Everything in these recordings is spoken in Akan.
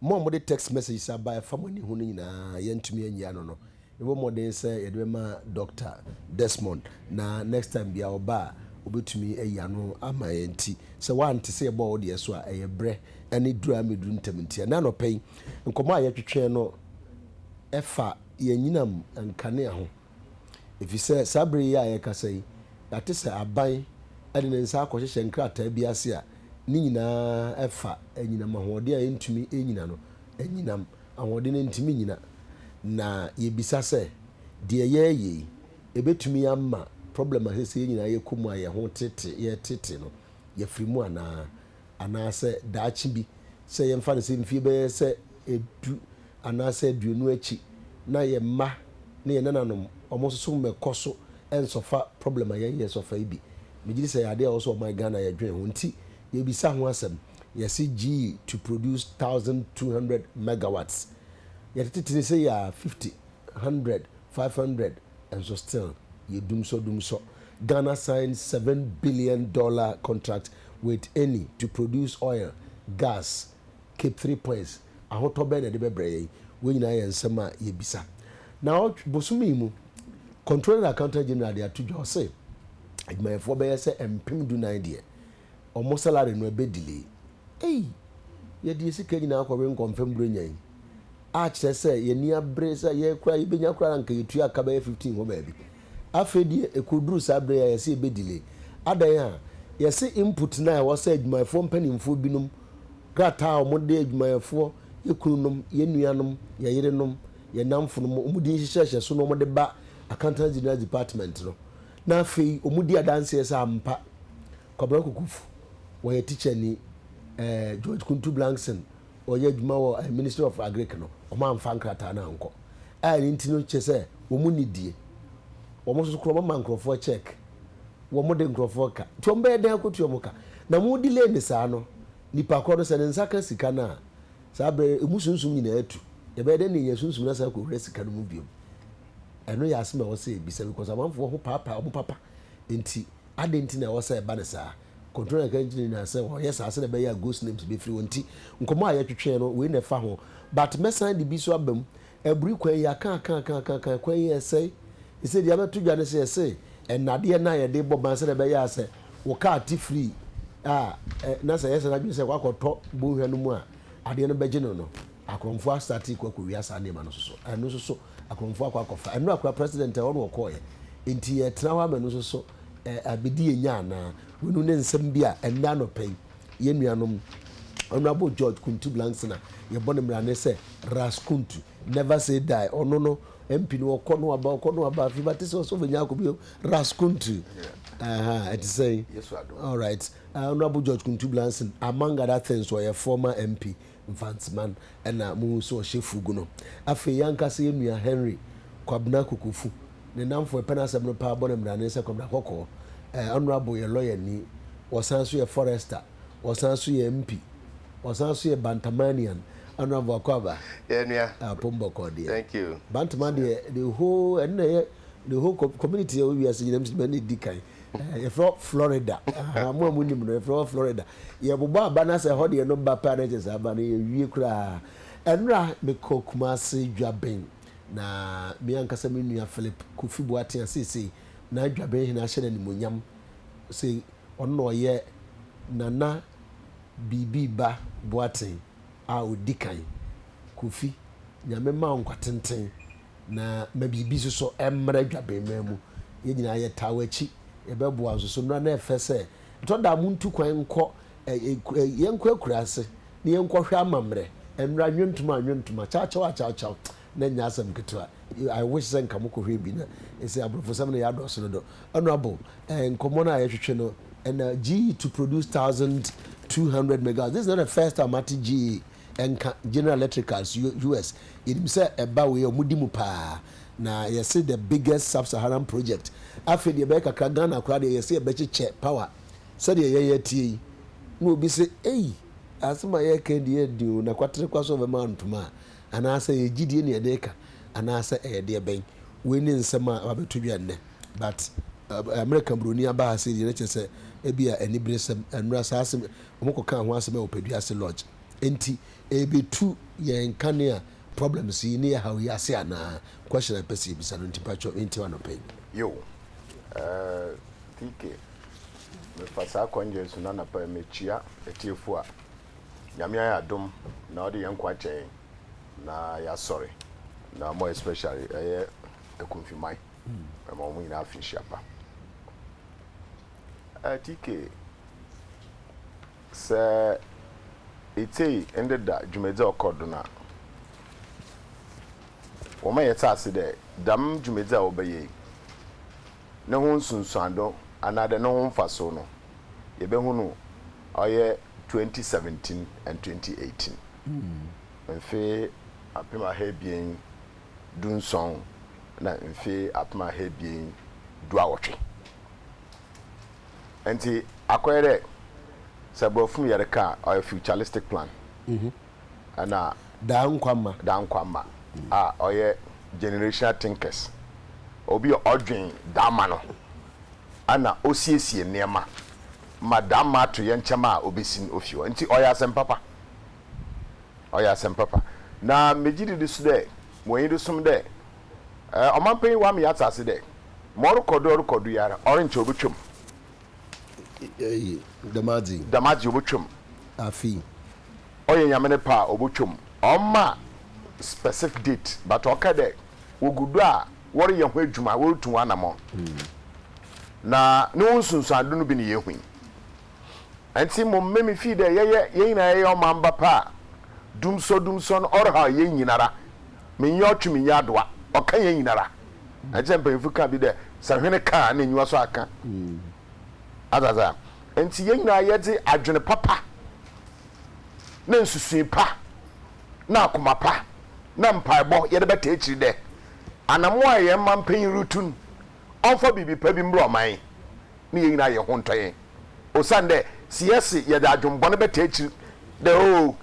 Mo a mode text messages aba a ɛfa mo ani ho no nyinaa, yɛantumi anyi ano no. Yɛbɔ mmɔden sɛ yɛde bɛma Dɔkta Desmond, na next time biara ɔba a, obetumi ayi ano ama yɛn. Enti sɛ woante sɛ yɛbɔɔ wo deɛ so a, ɛyɛ berɛ ne duru a ɛmmɛduru ntɛm nti. Ɛnnɛ anɔpa yi, nkɔmmɔ a yɛtwetwee no fa yɛn anyinam nkanea ho. Efisɛ saa bere yi a yɛrekasa yi, yɛate sɛ aban de ne nsa akɔhyehyɛ nkrataa bi ase a ne nyinaa fa anyinam ahoɔden a yentumi nnyina no, anyinam ahoɔden a yentumi nnyina. Na yebisa sɛ, deɛ yɛreyɛ yi, ebetumi ama problem a seesei yɛn nyinaa yɛkɔ mu a yɛn ho tete, yɛretete no, yɛafiri mu anaa? anaasɛ daakye bi, sɛ yɛmfa no sɛ mfeɛ bɛyɛ sɛ du anaasɛ aduonu akyi na yɛn mma ne yɛn nananom wɔn soso mmɛkɔ so nsɔfa problem a yɛn yɛsɔfa yi bi. Megye di sɛ ɛyɛ adeɛ a ɛwɔ sɛ ɔman Ghana yɛdwen ho nti yɛbisa ho asɛm. Yɛse gyii to produce thousand two hundred megawatts. Yɛtetetene sei a fifty, hundred, five hundred. nso still yɛ dumsɔ dumsɔ. Ghana sign seven billion dollar contract with Eni to produce oil, gas, Cape three points, ahotɔ bɛn na ɛde bɛbrɛ yɛn? Wei nyinaa yɛ nsɛm a yɛbisa. Naawɔtwe, bosome yi mu, Controller Accountant General de ato dwa, ɔse adwumayɛfoɔ bɛyɛ sɛ mpem du nan deɛ Ɔmo salary no ɛbɛ delay. Ei! Yɛde yɛn sika nyinaa kɔwe nkɔmfɛm Buronya yi, a kyerɛ sɛ yɛn ani abere sɛ yɛn koraa yɛbɛnya koraa na anka yɛtua ka bɛyɛ 15 hɔ baabi. Afei deɛ ɛkɔduru saa berɛ yi a yɛse yɛbɛ delay. Adɛn a? Yɛse input no a ɛwɔ sɛ adwumayɛfoɔ mpanimfoɔ binom, krataa a ɔmo de adwumayɛfoɔ, yɛ kununom, yɛ nuanom, yɛ yerenom, yɛ nnamfonom, ɔmo din hyehyɛɛhyɛ so na ɔmo de ba Accountants General's Department no, Na afei wɔdi adanseɛ sɛ ampa Kwabena Kokofo wɔyɛ tikyani. Ɛɛ George Kuntu Blankson ɔyɛ adwuma wɔ ɛɛ Ministry of Agric no, wɔamfa nkrataa no ankɔ. A ɛno nti no kyerɛ sɛ wɔn nni die. Wɔn nso koraa wɔma nkurɔfoɔ check. Wɔde nkurɔfoɔ ka. Nti wɔn bɛyɛ dɛn akɔtua wɔn ka? Na wɔn delay no saa no, nipa korɔ no sɛ ne nsa ka sika no a, saa berɛ no emu sunsum nyinaa tu. Yɛbɛyɛ dɛn na yɛanya sunsum no asan akɔwura sika no mu bio? Ɛno yɛ asem a ɛwɔ sɛ yɛbisa because amanfoɔ ho paapae wɔn papa nti adɛn nti na ɛwɔ sɛ ɛba no saa? Controller no ka nkyerɛ no nyinaa sɛ wɔyɛ saa sɛdeɛ ɛbɛyɛ a ghost names bɛfiri hɔ nti nkɔmmɔ a yɛtwetwee no wei na ɛfa ho but mɛsan de bi nso aba mu aburi kwan yi aka aka aka aka aka kwan yi ɛsɛe ɛsɛ deɛ abɛto dwa no sɛ yɛse nnadeɛ no a yɛde bɔ ban sɛdeɛ ɛbɛyɛ a sɛ wo kaa te firi a na sɛ yɛsɛ no adwene sɛ wakɔtɔ bɔnhwa no mu a adeɛ no bɛgye no no akorɔmfoɔ asate kɔ akɔwia saa nneɛma no nso so ɛno nso so Akoromfoɔ akɔ akɔfa. Ɛno akora president ɛhɔ na ɔkɔɔɛ. Nti yɛɛtena hɔ ama ɛno nso so abɛdi yɛn nya anaa? Weinom ne nsɛm bi a ɛnnɛ anɔpa yi yɛn nuanom Honourable George Kuntu Blangsina yɛbɔ no mmarane sɛ Ras Kuntu never say die. Ɔno no MP no ɔkɔ na waba, ɔkɔ na waba. Afei bɛate sɛ ɔsɔfo nyaa kɔ bio. Ras Kuntu. Aha, ɛte sɛn? Alright. Honourable George Kuntu Blangsina among other things ɔyɛ former MP Mfantseman na muhun so ɔhyɛ fugu no. Afei yankasa yɛ nua Henry Kwabena Kokofu ne nnamfo ɛpɛ n'asɛm no paa bɔ no mmra ne nsa Kwabena Kɔkɔɔ eh honourable yɛ lawyer ni, ɔsan nso yɛ forester, ɔsan nso yɛ MP, ɔsan nso yɛ Bantamanian honourable Akwaaba Yeah nua. ah pom bɔkɔɔ deɛ Thank you. Bantama deɛ the whole ɛno na ɛyɛ the whole co community a ɛwɔ wiase nyinaa mu sɛ ɛna ɛdi kan Yɛfrɛ hɔ Florida. Ahaa, mo a monim no, yɛfrɛ hɔ Florida. Yɛbobɔ aba no a, sɛ ɛhɔ deɛ no ba pɛ a, na kyerɛ sɛ aba no yɛawie koraa. Ɛnora, mekɔ Kumase Dwaben, na me ankasa me nua Philip Kofi Boateng a seesei na Dwaben hene ahyɛ no animuonyam sɛ ɔno na ɔyɛ Nana Biribi Ba Boateng a ɔdi kan. Kofi, Nyame mma wo nkwa tenten na ma biribi nso so mmra dwabɛnman mu. Yɛn nyinaa yɛtaa w'akyi, yɛbɛboa nso so. Mmra na ɛfɛ sɛ, ɛtɔ da a montu kwan nkɔ, yɛnkɔ akuraase na yɛnkɔhwɛ amammerɛ. Mmra, nnwontom a nnwontom, akyawkyaw a akyawkyaw, na ɛnyɛ asɛm ketewa. I wish sɛ nka mokɔhwɛɛ bi na ɛsɛ aborɔfosɛm no yɛ adɔɔso dodo. Honourable, nkɔmmɔ no a yɛhwehwɛ no, ɛna GE to produce 1200 megawatts, this is not the first time mate GE. Ɛnka General Electric as US. Yɛnim sɛ ɛba wei a ɔmo di mu paa. Na yɛse the biggest sub-Saharan project. Afei deɛ ɛbɛyɛ kakra Ghana koraa deɛ yɛse yɛbɛkyekyɛ power. Sɛdeɛ yɛn yɛteɛ yi na obi se ei asem a yɛreka yi deɛ ɛyɛ den o na kwatere kwa so ɔbɛma ntoma a anaasɛ ɛyɛ gyidie na yɛde reka anaasɛ ɛyɛ deɛ bɛn. Wei ne nsɛm a aba bɛto dwa nnɛ. But America buroni aba ha sei deɛ na kyerɛ sɛ ebia aniberesɛm. Ɛnnora saa asem wɔkɔkaa ho asɛm wɔ Padua ase lodge. Enti ɛrebetu yɛn ka nea problems yi ne ɛhaw yi ase anaa? Question a mepɛ sɛ yɛbisa no nti mpakyɛw mentie w'anɔpa yi. Yo, eh, TK, mefa saa kwan yei so na anɔpa yi mekyia atiefo a Nyame ayɛ adom na ɔde yɛn nkwa akyɛ yɛn na yɛasɔre na more especially ɛyɛ Akumfiman. Mema wɔn nyinaa afenhyia pa. Atike sɛ etsei ndɛ da dwumadzi a ɔkɔ do no a, wɔma yɛtse ase dɛ dɛm dwumadzi a wɔbɛyɛ yi no ho nsunsuando anaadɛ no ho mfaso no, yɛbɛhu no ɔyɛ twenty seventeen and twenty eighteen, mfe apem aha ebien du nson na mfe apem aha ebien du awɔtwe. Ntsi akɔyɛ dɛ sɛ Borɔfo mu yɛrekã a, ɔyɛ futuristic plan. Nna Daa nkwa mma. daa nkwa mma a ɔyɛ generational thinkers, obi a ɔdwen daamma no na osiesie nneɛma ma daamma atoyerɛnkyɛm a obesi no ofi hɔ. Ntsi ɔyɛ asɛm papa. Ɔyɛ asɛm papa. Na megye didi so dɛ, wɔ enyido som dɛ Eh, ɔmampanyin wɔ ama yɛatse ase dɛ, ma ɔrokɔ do ɔrokɔ do yi ara, ɔrennkyɛ obotwa mu. Ei, dɛm adze yi. Dɛm adze yi, obotwa mu. Afe yi. Ɔyɛ Nyame ne pɛ a, obotwa mu. Ɔmma specif date, but ɔka dɛ wogu do a wɔreyɛ ho edwuma, worutu ho anamɔn. Na no ho nsunsuando no bi na yehu yi. Ntsi mo mma me fii dɛ yɛyɛ hɛn nyina yɛyɛ ɔmamba pɛ a, dumsɔ dumsɔ no ɔrehaw hɛn nyinara, mennyɛ ɔtwe mennyɛ adowa, ɔkã hɛn nyinara. Ntsi na mpanyimfo kã bi dɛ, Sɛ hwen kã a, nna enyiwa so akã. Adze adze a ntsi hɛn nyina yɛdze adwen papa na nsusui pa na akoma pa na mpaabɔ yɛdze bɛtaa ekyir dɛ, anamɔn a hɛn mampanyin rutu no, ɔmfa biribi pa bi mbra ɔman yi. ne yɛn nyinaa yɛ ho ntɔ yɛn. Osiandɛ sɛ yɛse yɛdze adwen bɔn bɛtaa ekyir dɛ oh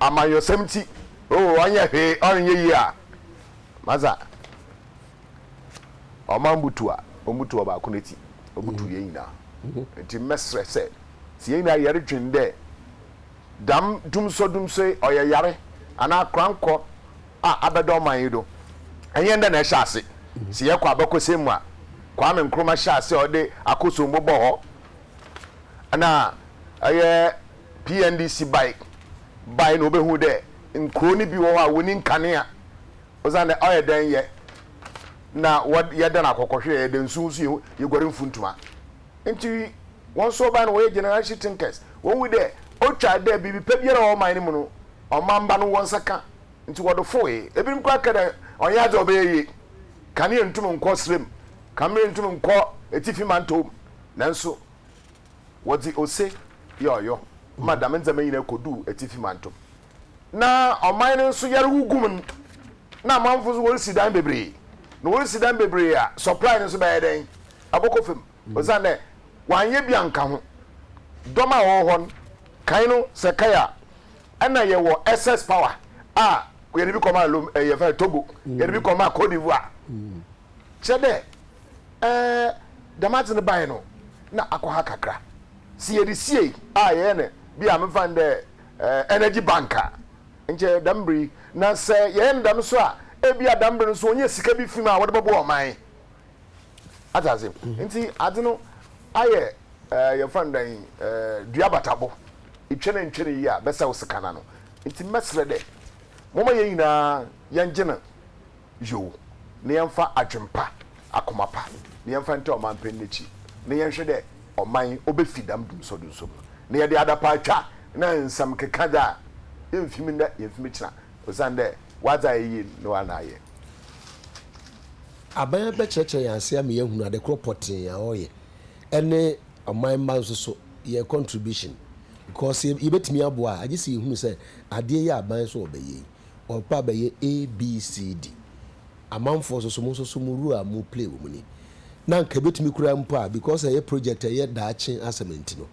amanyɔsɛm ntsi, oh ɔnnyɛ hwee, ɔrennyɛ yie a, ma dza ɔma mbutuw a, omutuw ɔbaako no etsi, obutuw hɛn nyinaa. Ntsi mɛserɛ sɛ, sɛ hɛn nyinaa yɛrodwen dɛ dɛm dumsɔdumsɔ yi ɔyɛ yare anaa korankɔ a abɛda ɔman yi do. Nnyɛ ndɛ na ɛhyɛ ase. Sɛ yɛkɔ abakɔsɛm mu a, Kwame Nkrumah hyɛɛ ase a ɔde akosombo bɔɔ hɔ na ɔyɛ PNDC bae bae na obehun dɛ nkurow no bi wɔ hɔ a wonni nkanea osiandɛ ɔyɛ dɛn yɛ na wɔdan akɔkɔhwereɛ, yɛda nsu ho so yɛ yɛguare mfuntuma. Nti wɔn nso wɔbae no wɔyɛ generation thinkers. Wɔhu dɛ otwa dɛ biribi pa biara a ɔwɔ ɔman no mu no ɔman ba no wɔ nsa ka. ntsi wɔdo fowee. Ebinom koraa kɛ dɛ, Ɔnnyɛ adze a ɔbɛyɛ yie. Kanea nntum nnkɔ serɛ mu, kanberɛ nntum nnkɔ etsifi mantɔw mu. Nanso wɔdze ose yɛ ɔyɔ ma dɛm ndzɛmba nyina koduu etsifi mantɔw mu. Na ɔman no nso yar gu mu no, na amamfo nso worisi dan beberee. Na worisi dan beberee a, supply no nso bɛyɛ dɛn? Ɔbɔkɔ famu. osiandɛ wɔannyɛ bi annka ho. Dɔm a wɔwɔ hɔ no, kan no sɛ kae a, nna yɛwɔ SS power a yɛdze bi kɔmaa Lom eh, yɛfrɛ no Togo, yɛdze bi kɔmaa Cote d'Ivoire. Kyerɛ dɛ, eh, dɛm adze no bae no, nna akɔ ha kakra. Sɛ yɛdze siei a yɛyɛ no bi a memfa no dɛ eh, energy bank a, nkyɛ dɛm ber yi, na sɛ yɛyɛ no dɛm so a, bi a dɛm ber no so wonnya sika bi fi mu a wɔdze bɔboa ɔman. Ate ase? Nti adze no ayɛ ɛɛ yɛmfa no dɛn ɛɛ dua abatabo. Itwa no ntwa no yie a bɛsɛw sekan no ano. Nti mɛserɛ dɛ momma yɛn nyina yɛngye no yow na yɛmfa adwen pa, akoma pa na yɛmfa ntaa ɔmanpanyin no ekyir na yɛnhwɛ dɛ ɔman obefi dɛm dumsɔdumsɔ mu na yɛdze adapaatwa na nsɛm keka dze a yemmfi mu ndɛ yemmfi mu kyena osiandɛ ɔadze ayɛ yie no ara na ayɛ. Aban abɛkyerɛkyerɛ yɛn ase ama yɛahunu ade korɔ pɔtee a ɔyɛ ɛne ɔman mma nso so yɛn contribution because sɛ yɛbɛtumi aboa a agye sɛ yɛhunu sɛ adeɛ yi a aban nso ɔbɛyɛ yi ɔpɛ abɛyɛ ABCD amanfoɔ nso so mo nso so mo role a mo play wɔ mu ni na anka ɛbɛtumi koraa mpo a because ɛyɛ project a ɛyɛ daakye asɛm nti no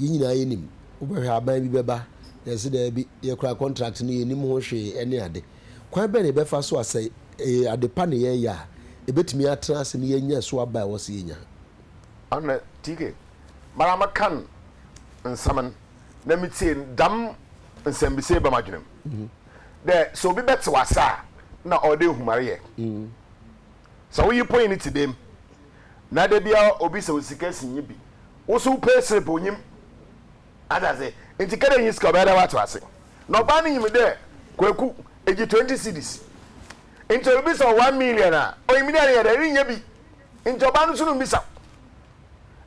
yɛn nyinaa yɛnim wobɛhwɛ aban bi bɛba na ɛse daabi yɛ koraa contract no yɛnim ho hwee ɛne ade Kwan bɛn na yɛbɛfa so a sɛ ɛyɛ ade pa na yɛreyɛ a, yebetumi atra ase na yɛanya so aba a ɛwɔ sɛ yenya? Ana TK, Mara mekan nsɛm no na mitsie no, dɛm nsɛmbisa yi ba m'adwen mu dɛ, sɛ obi bɛtsew ase a nna ɔwɔ dɛ ehum ara yɛ. Sɛ wo yer ponyin tse dɛm na da biara obi sɛ wo sika si nye bi, wo so wopɛ serep onyim. Ate ase? Ntsi kɛ dɛ innyi sika a ɔbɛyɛ dɛ wɔato ase. Na ɔbaa no nyim dɛ Kweku egye twenty cedis. Ntsi oribisa wo one million a, onyim dɛ ereyɛ dɛn? Irinnya bi. Ntsi ɔbaa no so no mmbisa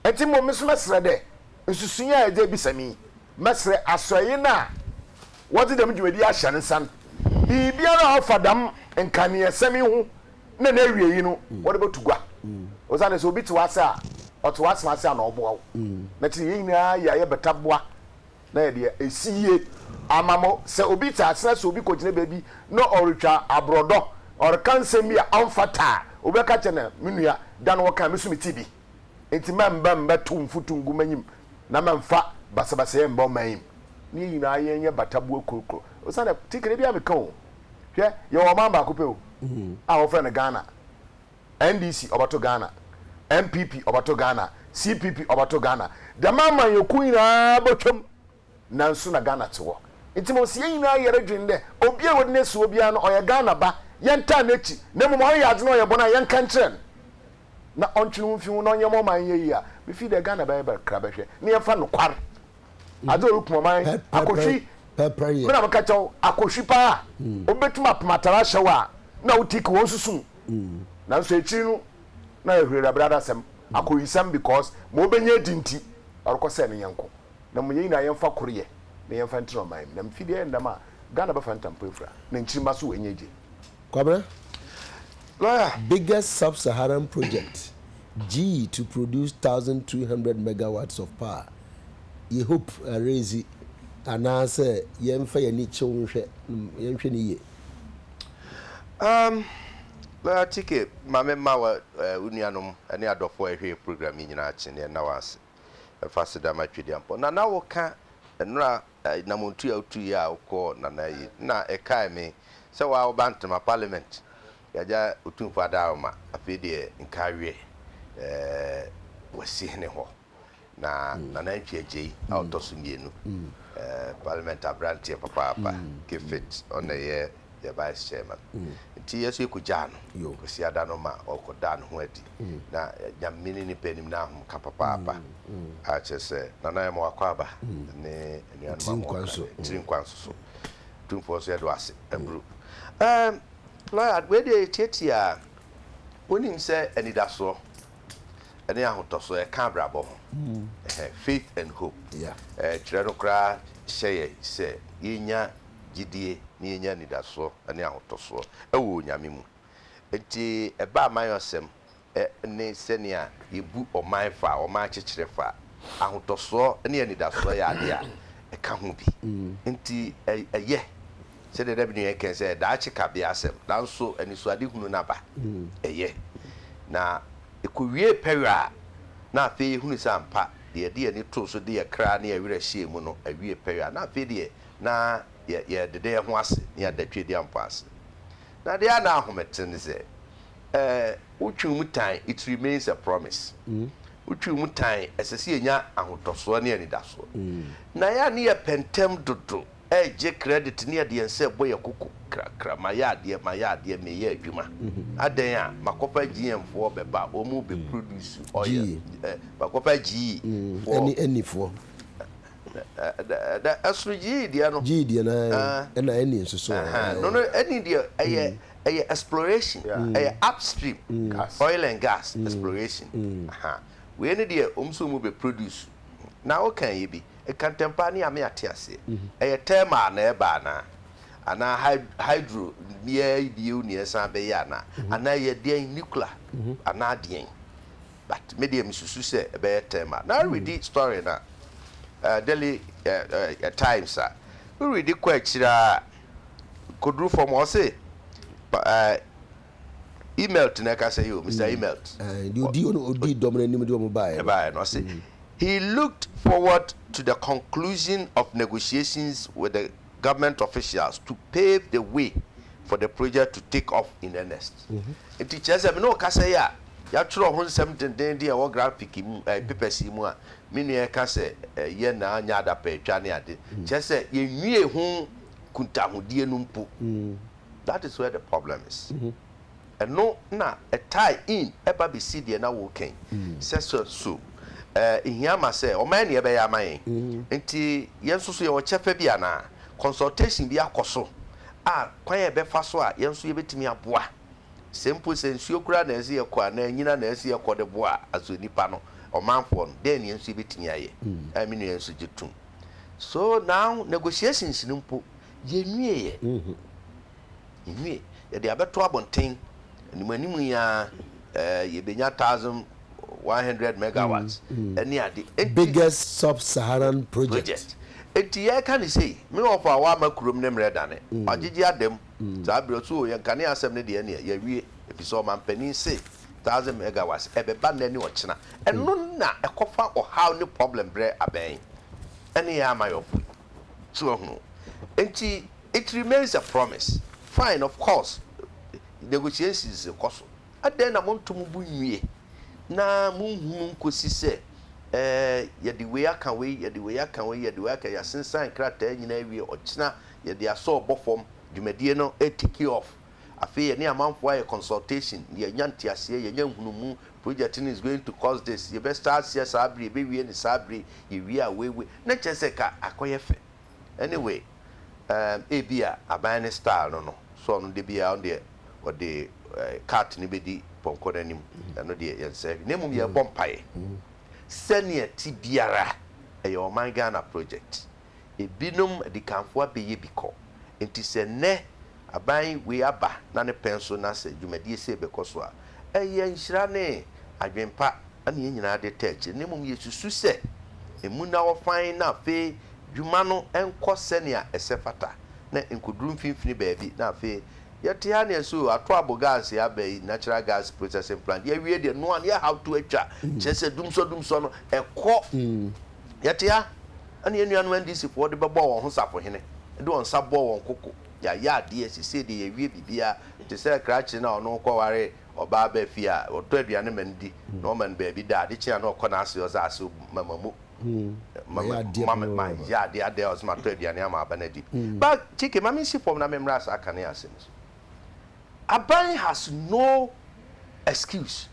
wo. Ntsi mbom me so mɛserɛ dɛ nsusui a edze ebisa me yi, mɛserɛ asoɛe no a wɔdze dɛm dwumadzi yi ahyɛ ne nsa no, biribiara a ɔfa dɛm nkaneasɛm yi ho na n'awiei no wɔde bɛto gua. Osiane sɛ obi te w'ase a, ɔte w'asem ase a na ɔboa wo. Na ɛte sɛ yɛn nyinaa yɛ a yɛbɛta boa na yɛde asi yie ama mo. Sɛ obi te asena sɛ obi kɔgyina baabi na ɔretwa aborɔdɔ, ɔreka nsɛm bi a ɔmfata a, obi bɛka akyerɛ no, Me nua, da no wɔkae, me nso metee bi. Enti mɛmba mmɛtow mfutu ngu m'enyim, na mɛmfa basabasayɛ mmba ɔman yi mu. Na yɛn nyinaa yɛnyɛ bata boa kurokuro. Osiane, tikere biara meka o. Hwɛ, yɛwɔ ɔman baako pɛ o, a wɔfrɛ no Ghana. NDC ɔbɛto Ghana, NPP ɔbɛto Ghana, CPP ɔbɛto Ghana. Dɛm amanyɔkuo nyinaa bɛtwam, nanso na Ghana te hɔ. Nti mmom sɛ yɛn nyinaa yɛre dwene dɛ, obiara a wɔde no asi hɔ biara no, ɔyɛ Ghana ba, yɛntaa n'akyi, na mmom ɔreyɛ adze na ɔyɛ bɔn a, yɛnka nkyerɛ no, na ɔntwe ne ho mfi ho, na ɔnyɛ ma ɔman no nyɛ yie a, mefii dɛ Ghana bɛyɛ bɛ kra bɛhwɛ, na yɛmfa nokwar adze a orukum ɔman, akɔhwi, me na mekɛkyɛ wo, akɔhwi paa, hmm. obetum apem atar ahyɛ wo a na wo tik wɔn susu mu, hmm. nanso ekyir no na yɛ hwirɛbrɛbrɛ asɛm, hmm. akɔyisɛm because ma obenya edi nti ɔrokɔsɛɛ ne nyɛnko, na mo yɛn nyinaa yɛmfa kor yɛ na yɛmfa ntina ɔman mu, na mfii dɛ yɛ ndɛm a Ghana bɛfa ntampon efura, na nkyirmba so woenya egye. Kwabrɛ, Lawyer. Biggest Sub-Saharan project, gyii to produce thousand two hundred megawatts of power, yɛ hope arezi anaasɛ yɛnfa yɛn ani kyew nhwɛ no, yɛnhwɛ no yie. Um, Lawyer Tike, ma me mma wɔ eh, wo nuanom ne adɔfoɔ a ɛhwɛ yɛ program yi nyinaa akye ne ɛnna wɔn ase. Ɛfa aseda ma Tweduampɔn. Nana woka nnora nammɔntu a wotuiɛ a wokɔɔ Nana Ayi no na ɛkae me sɛ wo ara woba Ntema Parliament, Yagya Otumfoɔ Adaaroma, afei deɛ nka aweɛ ɛɛ Wasihene hɔ, na Nana Antwi Agyei a ɔtɔ so mmienu, ɛɛ Parliament aberanteɛ papaapa, Gifit ɔna ɛyɛ. yɛ vice chairman nti yɛ nso yɛkɔgyaa no Kwasiada no ma ɔkɔdaa ne ho adi na Nyame ne nipa anim na ahomka papaapa a kyerɛ sɛ Nana Ayɛmɔ Akwaaba ne anuanom a wɔwɔ Accra ne tiri nkwa nso so Tumfoɔ nso yɛde wo ase aburo Ɛɛm lawyer wei deɛ yɛtiatia a wonim sɛ anidasoɔ ne ahotɔsoɔ ɛka abrabɔ ho ɛhɛ faith and hope ɛɛ twerɛ no koraa hyɛ yɛ sɛ yɛnya gyedie na yɛnya anidasoɔ ne ahotɔsoɔ wɔ Onyame mu. Nti ɛba amanyɔsɛm ne sɛnea yɛbu ɔman fa, ɔman akyekyerɛ fa, ahotɔsoɔ ne anidasoɔ yɛ adeɛ a ɛka ho bi. Nti ɛyɛ sɛdeɛ da bi nua yi kae sɛ daakye kabea asɛm, nanso anisoadehunu no aba. Ɛyɛ. Na ɛkɔwiee pɛyɛ a na afei yɛhunu sɛ ampa deɛ yɛde yɛn ani too so de yɛn kra ne yɛn werɛ hyɛɛ mu no awie pɛyɛ a na afei deɛ na yɛ yɛdeda yɛn ho ase ne yɛada Tweadia mpo ase. Na adeɛ a na aho me te ne sɛ, eh, wo Twi mu tan, it remains a promise. Wo Twi mu tan, ɛsɛ sɛ yɛnya ahotɔsoɔ ne anidasoɔ. Na yɛ a ne yɛ pɛ ntɛm dodo, ɛregye credit ne yɛde yɛn nsa rebɔ yɛn koko krakra, mayɛ adeɛ, mayɛ adeɛ, meyɛ adwuma. Adɛn a, makɔfa GM foɔ bɛba, wɔn bɛ produce oil, eh, makɔfa GE foɔ. Ɛne Eni foɔ. Na ɛsono gyidiɛ no. Gyidiɛ no ae ɛna ɛne nsusoɔ. No no ɛne deɛ ɛyɛ ɛyɛ exploration ɛyɛ upstream oil and gas exploration wei ne deɛ wɔn nso wɔn bɛ produce na wo kan yɛ bi ɛka ntɛmpa ne ame ate aseɛ ɛyɛ thermal na ɛba anaa anaa hydro neɛ bio neɛ ɛsan bɛyɛ anaa anaa ɛyɛ deɛn nuclear anaa deɛn. But me deɛ me susu sɛ ɛbɛyɛ term a. Na redi story na eh daily eh eh times a me redi kɔ akyire aa kɔduru fam a ɔse pa eh Imelt na ɛka sɛ yoo Mister Imelt Ae deɛ ɔdi ɔno ɔdi dɔm no anim deɛ ɔmo baeɛ no. ɛbaeɛ no ɔse he looked forward to the conclusion of negotiations with the government officials to pave the way for the project to take off in earnest. Nti kyerɛ sɛ me ne wo kasa yi a. Yɛatwerɛ ho nsɛm dendennden a ɛwɔ grafiki mu, ɛɛ pepɛsi mu a me nua reka sɛ ɛyɛ na anyɛ adapaatwa ne ade. Kyerɛ sɛ, yɛnwiee ho nkuntahodie no mpo. That is where the problem is. Ɛno na ɛ tie in ɛba bɛsi deɛ na woreka yi. Sɛ sɛ so ɛɛ ɛhia ma sɛ wɔayɛ deɛ ɛbɛyɛ ama yɛn. Nti yɛn nso so yɛwɔ kyɛfa bi anaa? Consultation bi akɔ so a kwan a ɛbɛfa so a yɛn nso yɛbɛtumi aboa? Sɛ mpo sɛ nsuo koraa na ɛse yɛkɔ anaa anyina na ɛse yɛkɔ de boa aso nnipa no, ɔmanfoɔ no, dɛn na yɛn nso yɛbɛtumi ayɛ? Ɛɛ me nua yɛn nso gye tom. So now negotiations no mpo yɛnwieɛ. Yɛnwie. Yɛde abɛto abɔnten. Anim anim yi ara ɛɛ yɛbɛnya thousand one hundred megawatts ɛne ade. Enti. Biggest sub-Saharan project. Project. Enti yɛreka no sei, me wɔfo a wamma kurom ne mmerɛ dane, wagyegye ada mu. Saa berɛ nso o, yɛn kanea asɛm no deɛ ɛneɛ yɛawie, ɛfisɛ ɔmanpanin se thousand megawatts ɛbɛba nnɛ ne ɔkyena. Ɛno na ɛkɔfa ɔhaw ne problem berɛ abɛn ɛne yɛn amayɔfo yi. So wahunu? Enti it remains a promise. Fine, of course, negotiations rekɔ so. Adɛn na monto mo bo nwie na monhunu nkɔsi sɛ ɛɛ yɛde wei aka wei, yɛde wei aka wei, yɛde wei aka, yɛasensan nkrataa nyinaa awie, ɔkyena, yɛde asɔ ɔbɔ fam dwumadie no tiki off afei yɛne amanfoɔ ayɛ consultation yɛ nya nteaseɛ yɛ nya nhunumu project no is going to cost this yɛ bɛ start seɛ saa bere yɛ bɛ wie no saa bere yɛ wie a wei wei na kyerɛ sɛ ka akɔ yɛ fɛ anyway um ebi a aban no style no no so ɔno de biara ɔno deɛ ɔde eh, cart no bɛdi pɔnkɔ no anim ɛno deɛ yɛn sɛ hwɛ na mmom yɛbɔ mpaeɛ sɛnea ti biara ɛyɛ ɔman Ghana project. ebinom adikanfo abɛyɛ bi kɔ. Enti sɛ nnɛ aban wei aba na ne pɛn so na sɛ dwumadie sei bɛkɔ so a, ɛyɛ nhyira ne adwenpa na yɛn nyinaa de taa akyire, na mmom yɛsusu sɛ ɛmu na wɔfan na afei dwuma no nkɔ sɛnea ɛsɛ fata na nkɔduru mfimfini baabi na afei yɛte ha na yɛse oo ato abo gas yi aba yi, natural gas processing plant, yɛawie deɛ noa na yɛhaw to atwa, kyerɛ sɛ dumsɔdumsɔ no ɛkɔ. Yɛte ha, ɛna yɛn nuanom NDC foɔ de bɛbɔɔ wɔn ho safohene, de wɔn nsa bɔɔ wɔn koko, yɛayɛ adeɛ, sesei deɛ yɛawie biribiara, te sɛ krakye no a ɔno kɔware ɔbaa ba fie a, ɔtɔ aduane ma no di, na ɔma no baabi da, ade kye a na ɔkɔ n'ase ɔdze ase ɔbu ma ma mu, ma ma ma ma ma yɛ adeɛ adɛn a ɔse matɔ aduane ama aba no adi bi. Ba Kiki, ma mensi fam na memmra saa kanea ase no so. Aban has no excuse,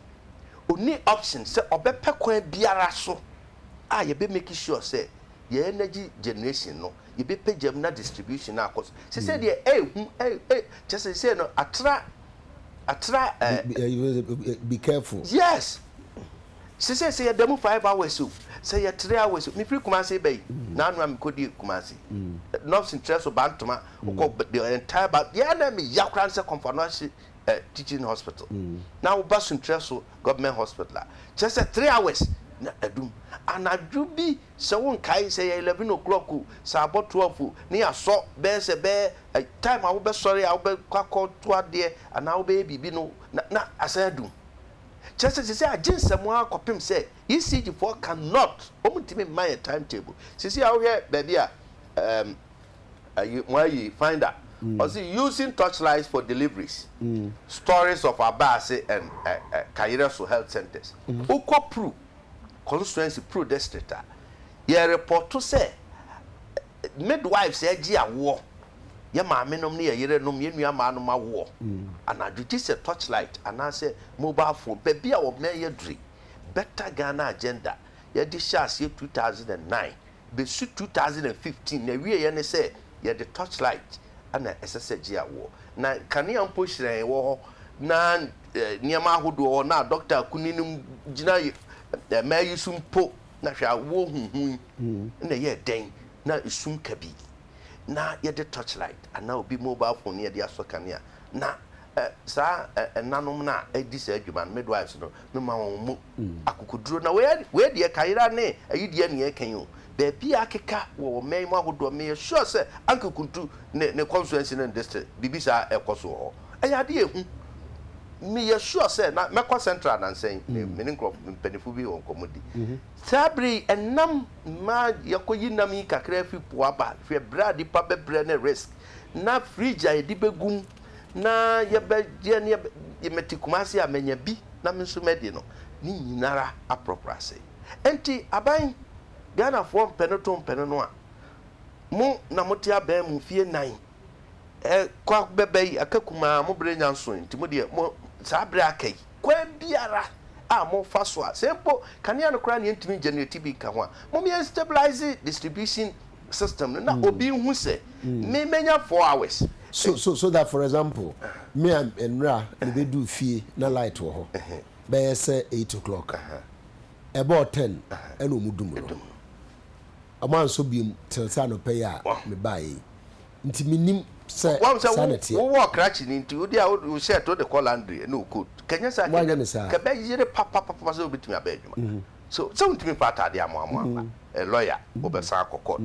ɔnni option sɛ ɔbɛpɛ kwan biara so a yɛbɛ make sure sɛ yɛ energy generation no yɛbɛ pagya mu na distribution no akɔ so sɛ sɛ deɛ ɛɛhu ɛɛ kyɛ sɛ sɛ no atra atra ɛɛ. Be careful. Yes sɛ sɛ sɛ yɛ da mu five hours o sɛ yɛ three hours o me firi Kumasi bɛ yi na ano a me kɔ di Kumasi nɔfs nkyerɛ so bantoma o kɔ the entire ba yɛ na me ya kora nsɛ kɔnfa no ahye. eh teaching hospital na wo ba sunkyerɛ so government hospital a kyerɛ sɛ three hours na adum anadwo bi sɛ wo nkae sɛ yɛ eleven o'clock o sɛ abɔ twelve o ne yasɔ bɛyɛ sɛ bɛyɛ eh time a wo bɛ sɔre a wo bɛ kɔ akɔ to adeɛ anaa wo bɛyɛ biribi no na na asan adum kyerɛ sɛ sisi agye nsɛm ara kɔpem sɛ ECG foɔ can not wɔn ntumi mma yɛ time table sisi a wo hwɛ baabi a eh. mo ayi finder ɔsi using torchlights for deliveries stories of abaase and kayerɛso health centres wokɔ pru constituency pru district a yɛ repɔto sɛ midwives agye awoɔ yɛ maame nom ne yɛ yere nom yɛ nua maa nom awoɔ anadwo gye sɛ torchlight anaasɛ mobile phone baabi a wɔmɛn yɛ duri better Ghana agenda yɛde hyɛ aseɛ 2009. Besu two thousand and fifteen na ɛwieɛ ne sɛ yɛde torch light na ɛsɛ sɛ gye awoɔ. Na nkanea mpo hyerɛn wɔ hɔ na nneɛma ahodoɔ wɔ hɔ na Doctor Akuni no gyina mmaa yi so mpo na hwɛ awoɔ huhu yi na ɛyɛɛ dɛn na ɛsum kabii na yɛde torch light anaa obi mobile phone na yɛde asɔ kanea na Ɛ, saa ɛ, ɛnanom no a ɛdi saa adwuma no, midwives no, mema wɔn mu akokoduro. Na wei, wei deɛ kayera ne ayi deɛ na yɛreka yi o. Baabi a akeka wɔ ɔman yi mu ahodoɔ, meyɛ sure sɛ Anke Kuntu ne, ne constituency ne ne district, biribi saa ɛrekɔ so wɔ hɔ. Ɛyɛ adeɛ a ɛhu. Meyɛ sure sɛ, na mɛkɔ Central anansɛ yi, me, me ne nkorɔfo, mpaninfoɔ bi wɔ nkɔmmɔ di. Saa berɛ yi, ɛnam, mmaa, yɛakɔyi nam yi kakra afiri po aba, hwɛ berɛ a nnipa bɛbrɛ ne risk, na fridge a yɛde bɛgu mu na yɛbɛyɛ ne yɛbɛ, mete Kumasi a manya bi na me nso madi no, ne nyina ara aprɔprɔ asɛe. Enti aban, Ghanafoɔ mpɛ no to mpɛ no no a, mo na mote aban mu mfeɛ nnan, ɛ, kɔ bɛba yi, aka kumaa, mo berɛ nya nsoe, nti mo deɛ, mo, saa berɛ a aka yi, kwan biara a mofa so a, sɛ mpo kanea no koraa na yɛntumi ngyɛnereti bi nka ho a, mom yɛnstabilise distribution, system no na obi nhu sɛ me mɛnya four hours. So so so that for example me a nnra me bɛduu fie na light wɔ hɔ bɛyɛ sɛ eight o'clock ɛbɔɔ ten ɛna ɔmu dum no ɔmo ansɔ biom till sɛ anɔpa yi a me baa yei nti me nim sɛ saa na teɛ. Wowɔ ɔkrakye no nti wode a wo shirt wode kɔ laundry ɛna wo coat kɛnyɛ saa kɛbɛyere papapapa sɛ wobɛtumi aba adwuma. So sɛ wontumi mfa ataadeɛ amoamoa mma ɛ lɔya wobɛsan akɔ court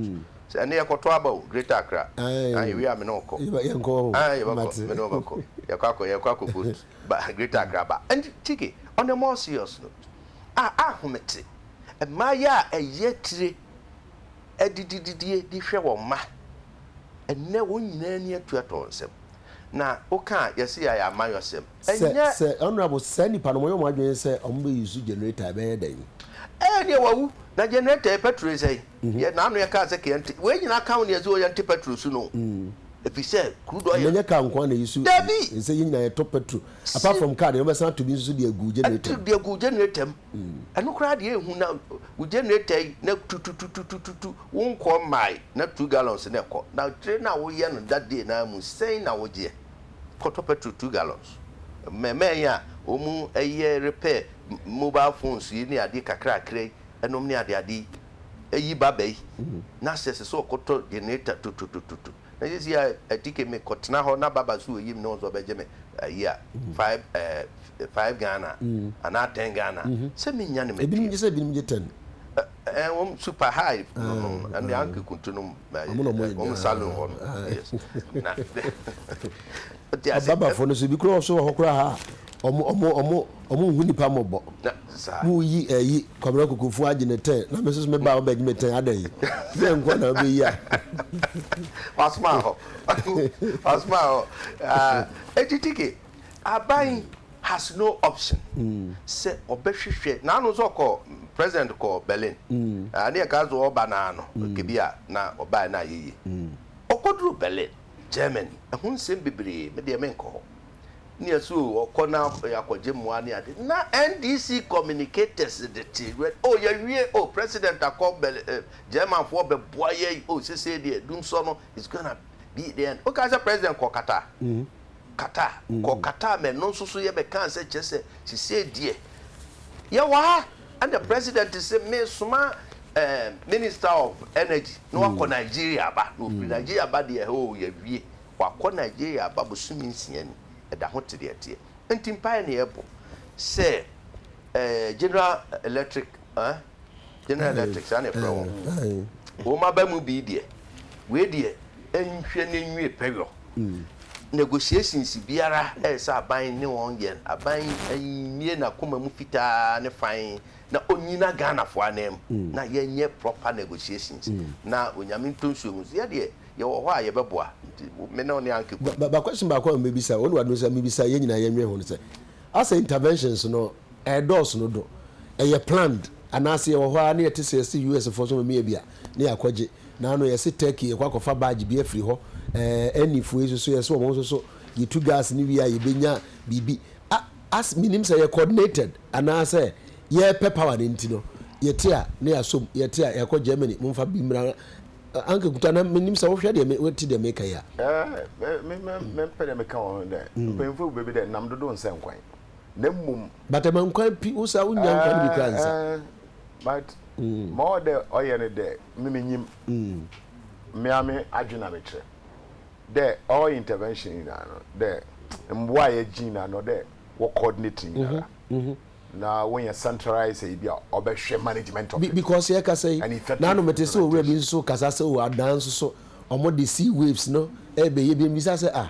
sɛ ɛnɛ yɛkɔtɔ aba o greater accra ah yɛwie a mene wo kɔ ah yɛbɛkɔ mene wo bɛkɔ yɛkɔ akɔ yɛkɔ akɔ vote ba greater accra ba and chike on a more serious note ah ahomete mmaa yi a ɛyɛ atire adidididie de hwɛ wɔn mma ɛnɛ wɔn nyinaa ani atu atɔ wɔn nsam. na wo ka a yɛse yɛayɛ amayɔsɛm Sɛ ɛnyɛ. sɛ honourable saa nipa no wɔyɛ wɔn adwene sɛ wɔn bɛ use generator ɛbɛyɛ dɛn. Ɛɛ neɛ wawu na generator yɛ petrol yɛ sɛn yɛ na ano yɛ kaa sɛ kɛ yɛnte wei nyinaa ka ho neɛ ɛsɛ yɛnte petrol su no ɛfisɛ crude oil. Ɛnɛ nyɛ car nkoa na yɛsu Dabi! ɛsɛ yɛn nyinaa yɛtɔ petrol apart Si. from car deɛ wɔbɛsan ato bi nso so de agu generator mu. Ɛde agu generator mu. Ɛno koraa deɛ ɛhu na wo generator yi na tutututututu wo nkɔɔ mmae na two gallons na ɛkɔ na kyerɛ na woyɛ no that day no ara mu sɛn na wogyeɛ kɔtɔ petrol two gallons mmɛmɛn yi a wɔn ɛyɛ repair mobile phones yi ne adeɛ kakrakra yi ɛnom ne adeade yi ɛyi ba bɛyi na sɛ ɛsɛ sɛ ɔkɔtɔ generator tututututu. Na sesei a atike me kɔ tena hɔ na baba so oyim ne ho sɛ ɔbɛgye me ayi a five eh five Ghana anaa ten Ghana sɛ me nya ne matua. Ebinom gye sɛ ebinom gye ten. Eh eh wɔn super high no no ɛne anke kuntu no eh wɔn salon hɔ no yes na. Ababafo no so bi koraa so wɔ hɔ koraa ha a ɔmo ɔmo ɔmo ɔmo nhu nipa mmɔbɔ. Mo yi ɛyi Kwabena Kokofu agye ne tɛn na me soso me ba a ɔbɛgye me tɛn adɛn yi tɛn nkoa na ɔbɛ yi a. Wasoma hɔ wasoma hɔ eti tike aban has no option sɛ ɔbɛ hwehwɛ na ano nso ɔkɔ president kɔ Berlin ne yɛ ka nso ɔba na ano kebi a na ɔba yɛ na ayɛ yie ɔkɔ duru Berlin. Germany. Ɛho nsɛm bebree, me deɛ menkɔ hɔ. Nea so ɔkɔ na akɔgye mmoa ne ade. Na NDC communicators de te wɛ, oh yɛawie, oh President akɔ Berlin, eh, Germanfoɔ bɛboa yɛn, oh sesei deɛ dumsɔ no is gonna be the end. Wokaa sɛ President kɔɔ Qatar? Qatar, kɔɔ Qatar ma ɛno nso so yɛbɛkaa sɛ kyerɛ sɛ sesei deɛ yɛwɔ ha. Ɛna president se me soma eh, minister of energy na wakɔ Nigeria aba. Na ɔfiri Nigeria aba deɛ hoo yɛawie. Wakɔ Nigeria aba bosome nsia ni. Ɛda ho te deɛ ɛteɛ. Nti mpaeɛ na yɛbɔ sɛ eh, General Electric eh, General Electric saa na yɛfrɛ wɔn. Wɔn aba mu bi deɛ, wei deɛ nhwɛ na nwie pɛyɔ. negotiations biara ɛsɛ aban ne wɔn yɛ aban mmie nakoma mu fitaa ne fann na ɔnyina Ghanafoɔ ananmu na yɛnyɛ proper negotiations na Onyame ntɔ nsuo ngu so yɛdeɛ yɛwɔ hɔ a yɛbɛboa nti me ne wo ne Anke Kwan. Ba question baako a mebisa wo ne w'adom sɛ mebisa yɛn nyinaa yɛnwɛn ho no sɛ asɛ interventions no Ɛredɔɔso dodo. Ɛyɛ planned anaase yɛwɔ hɔ ara na yɛte sɛ yɛse US foɔ nso ɔmo meyɛ bi a na yɛakɔgye. Naano yɛse Turkey yɛkɔ akɔfa badge bi afiri hɔ. Ɛɛ NE foɔ yi nso so yɛse ɔmo nso so yɛtu gas no wie a yɛbɛnya biribi. A as menim sɛ yɛ coordinated anaasɛ yɛrepɛ power no nti no yɛte a na yɛasɔ mu, yɛte a yɛakɔ Germany momfa bi mmra Anka Nkuta na menim sɛ wohwɛ deɛ me wote deɛ meka yi a. Ɛɛ me me mempɛ deɛ meka wɔ ho dɛ mpanyinfoɔ gu baabi dɛ nam dodo nsɛ nkwan. na mmom. but ɛma nkwa pi wo sa wo nya nkwa no bi kora nsa. but ma ɔwɔ dɛ ɔyɛ no dɛ me me nyim me ara me adwen na me kyerɛ dɛ all intervention nyinaa no dɛ mboa a yɛgye nyinaa no dɛ wɔ coordinate nyinara na wɔ yɛ centralize sɛ ebi a ɔbɛ hwɛ management of it because yɛ kasa yi na no mete sɛ owura bi nso kasa sɛ o adan nso so ɔmo de sea waves no ɛbɛ yɛ bi mbisa sɛ ah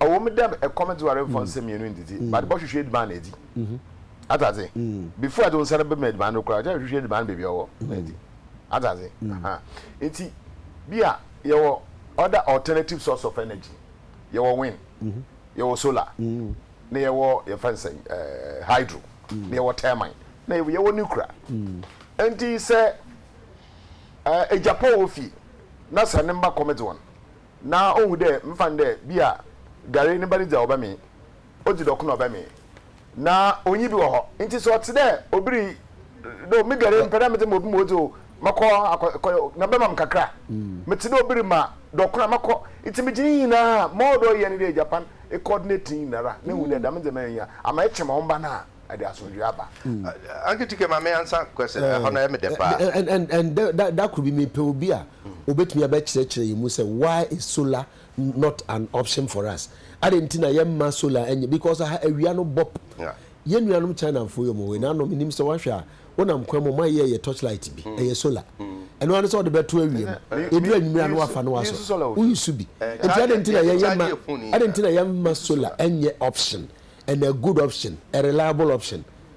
ɔwɔ mu dɛ ɛkɔm dze ware mfa nsɛm mmienu ndzidzi but bɔhwehwɛ eduban na edzi atse adze before edze wo nsa no bɛma eduban no koraa kyɛrɛ hwehwɛ eduban no beebi ɔwɔ na edzi atse adze ahaa ntsi bi a yɛwɔ other alternative source of energy yɛwɔ wind yɛwɔ solar na yɛwɔ yɛfrɛ no sɛn ɛɛɛ hydro na yɛwɔ termine na yɛwɔ yɛwɔ nuclear ntsi sɛ ɛɛ egyapɔ wɔ fie na sɛ ne mba kɔm dze wɔn. na ohu dɛ mfa no dɛ bi a Gary ne ba no dzi a ɔbɛmee, odzi dɔko na ɔbɛmee, na onnyi bi wɔ hɔ. Ntsi sɛ ɔtse dɛ obi ri dɛ o, me Gary mepɛ dɛ medze ma obi ma odzi o, mɔkɔ akɔ kɔ na bɛma me kakra a, metse dɛ obi rema dɔko na mɔkɔ. Ntsi megye ne nyina a, ma ɔwɔ dɛ ɔyɛ nye dɛ egya pa no, ekɔɔdineti ne nyinara na ehu dɛ dɛm ndzɛmba yi ohia ama ekyɛ ma wo mba no a, ɛdze asomdwee aba. Aunty Tike ma me ansa question, ɛhɔ no ɛyɛ me dɛ paa. Ndɛ da kor bi mepɛ obi a. Obetumi abɛkyerɛkyerɛ yɛn mu sɛ why is solar not an option for us? Adɛn nti na yɛmma solar nyɛ because aha awia no bɔp. Yɛn nuanom Chinafo yi wɔn wei na ano menim sɛ wahwɛ a wonam kwan mu a wɔn ayeyɛ yɛ torchlight bi ɛyɛ solar ɛno ara ne sɛ wɔde bɛto awia mu ɛduru anwummerɛ a na wafa na wasɔ woyi so bi nti adɛn nti na yɛn yɛmma adɛn nti na yɛmma solar nyɛ option and a good option a reliable option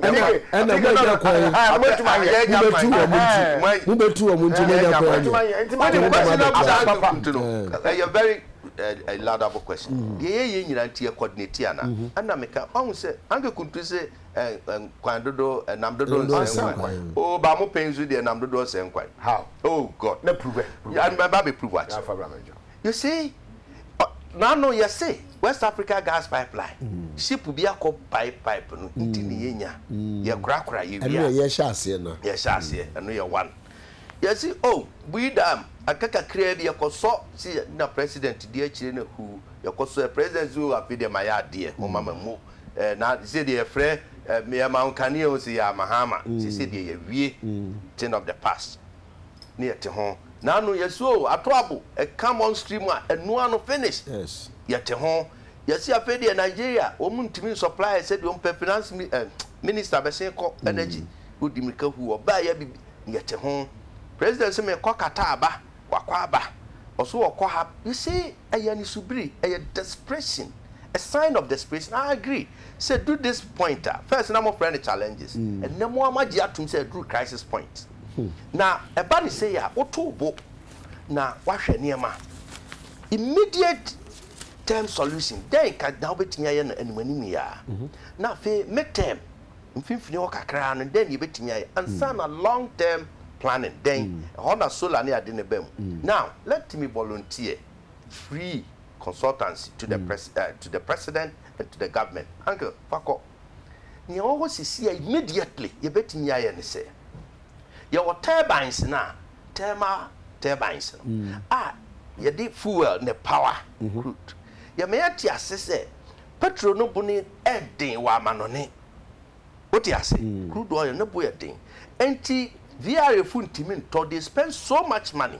ɛna moanya kwan mobɛtu wɔn nti mobɛtu wɔn nti moanya kwan nyɛ wode ne dama bɛkura a laudable question mm-hmm. deɛ yɛyɛ nyina nti yɛ coordinate ana mm-hmm. ɛna meka ɔhu sɛ anke kuntu sɛ nkwan dodo nam dodo nsɛ nkwan o ba mo pɛn so deɛ nam dodo nsɛ nkwan oh god na prove ɛnbɛba bɛ prove akyɛ You see, ɔ, n'ano yɛ se West Africa Gas Pipeline, ship bi akɔ pipe pipe no nti ne yɛnya, yɛkorakora, yɛwie a. Ɛno yɛ yɛhyɛ aseɛ no. Yɛhyɛ aseɛ, ɛno yɛ one. Yɛse oh, Bui Dam, aka kakraa bi, yɛkɔsɔ, se na President di akyire no huu, yɛkɔsɔɛ, President se oh, afei deɛ ma yɛ adeɛ, momma ma mmu, eh, na sesei deɛ yɛfrɛ, eh, yɛma wo nkanea o, se yɛama ha ama, sesei deɛ yɛawie, thing of the past. ne yɛte ho na ano yɛse o ato abo ɛka monstri mu a ɛnoa ano finish yɛte ho yɛse afei deɛ Nigeria wɔn ntumi nsupply yɛ sɛdeɛ wɔn pɛ finance mi eh, minister bɛsen kɔ energy wodi mirika hu ɔbaa yɛ bibi yɛte ho president se mekɔ Qatar aba wakɔ aba ɔso ɔkɔ ha you see ɛyɛ anisubiri ɛyɛ desperation a sign of desperation I agree sɛ ɛduru this point a first na mofrɛ no challenges ɛnnɛ mo ara moagye atom sɛ ɛduru crisis point. Na ɛba no sei a, woto wo bo na woahwɛ nneɛma. Immediate term solution, dɛn nka na wobɛtumi ayɛ no animanim yi ara? Na afei mid term, mfimfini hɔ kakra no, dɛn na yɛbɛtumi ayɛ? Ansa na long term planning, dɛn? Ɛhɔ na solar ne ade no ba mu. Now, let me volunteer free consultancy to the president and to the government. Uncle, fa kɔ. Nea ɛwɔ hɔ seesei a immediately yɛbɛtumi ayɛ ne sɛ, yɛwɔ turbines no a, thermal turbines no a yɛde fuel ne power crude. Yɛma yɛte ase sɛ petrol no bo no yɛ den wɔ amanɔne. Wote ase? Crude oil no bo yɛ den. Enti VRA fo ntumi ntɔ, they spend so much money.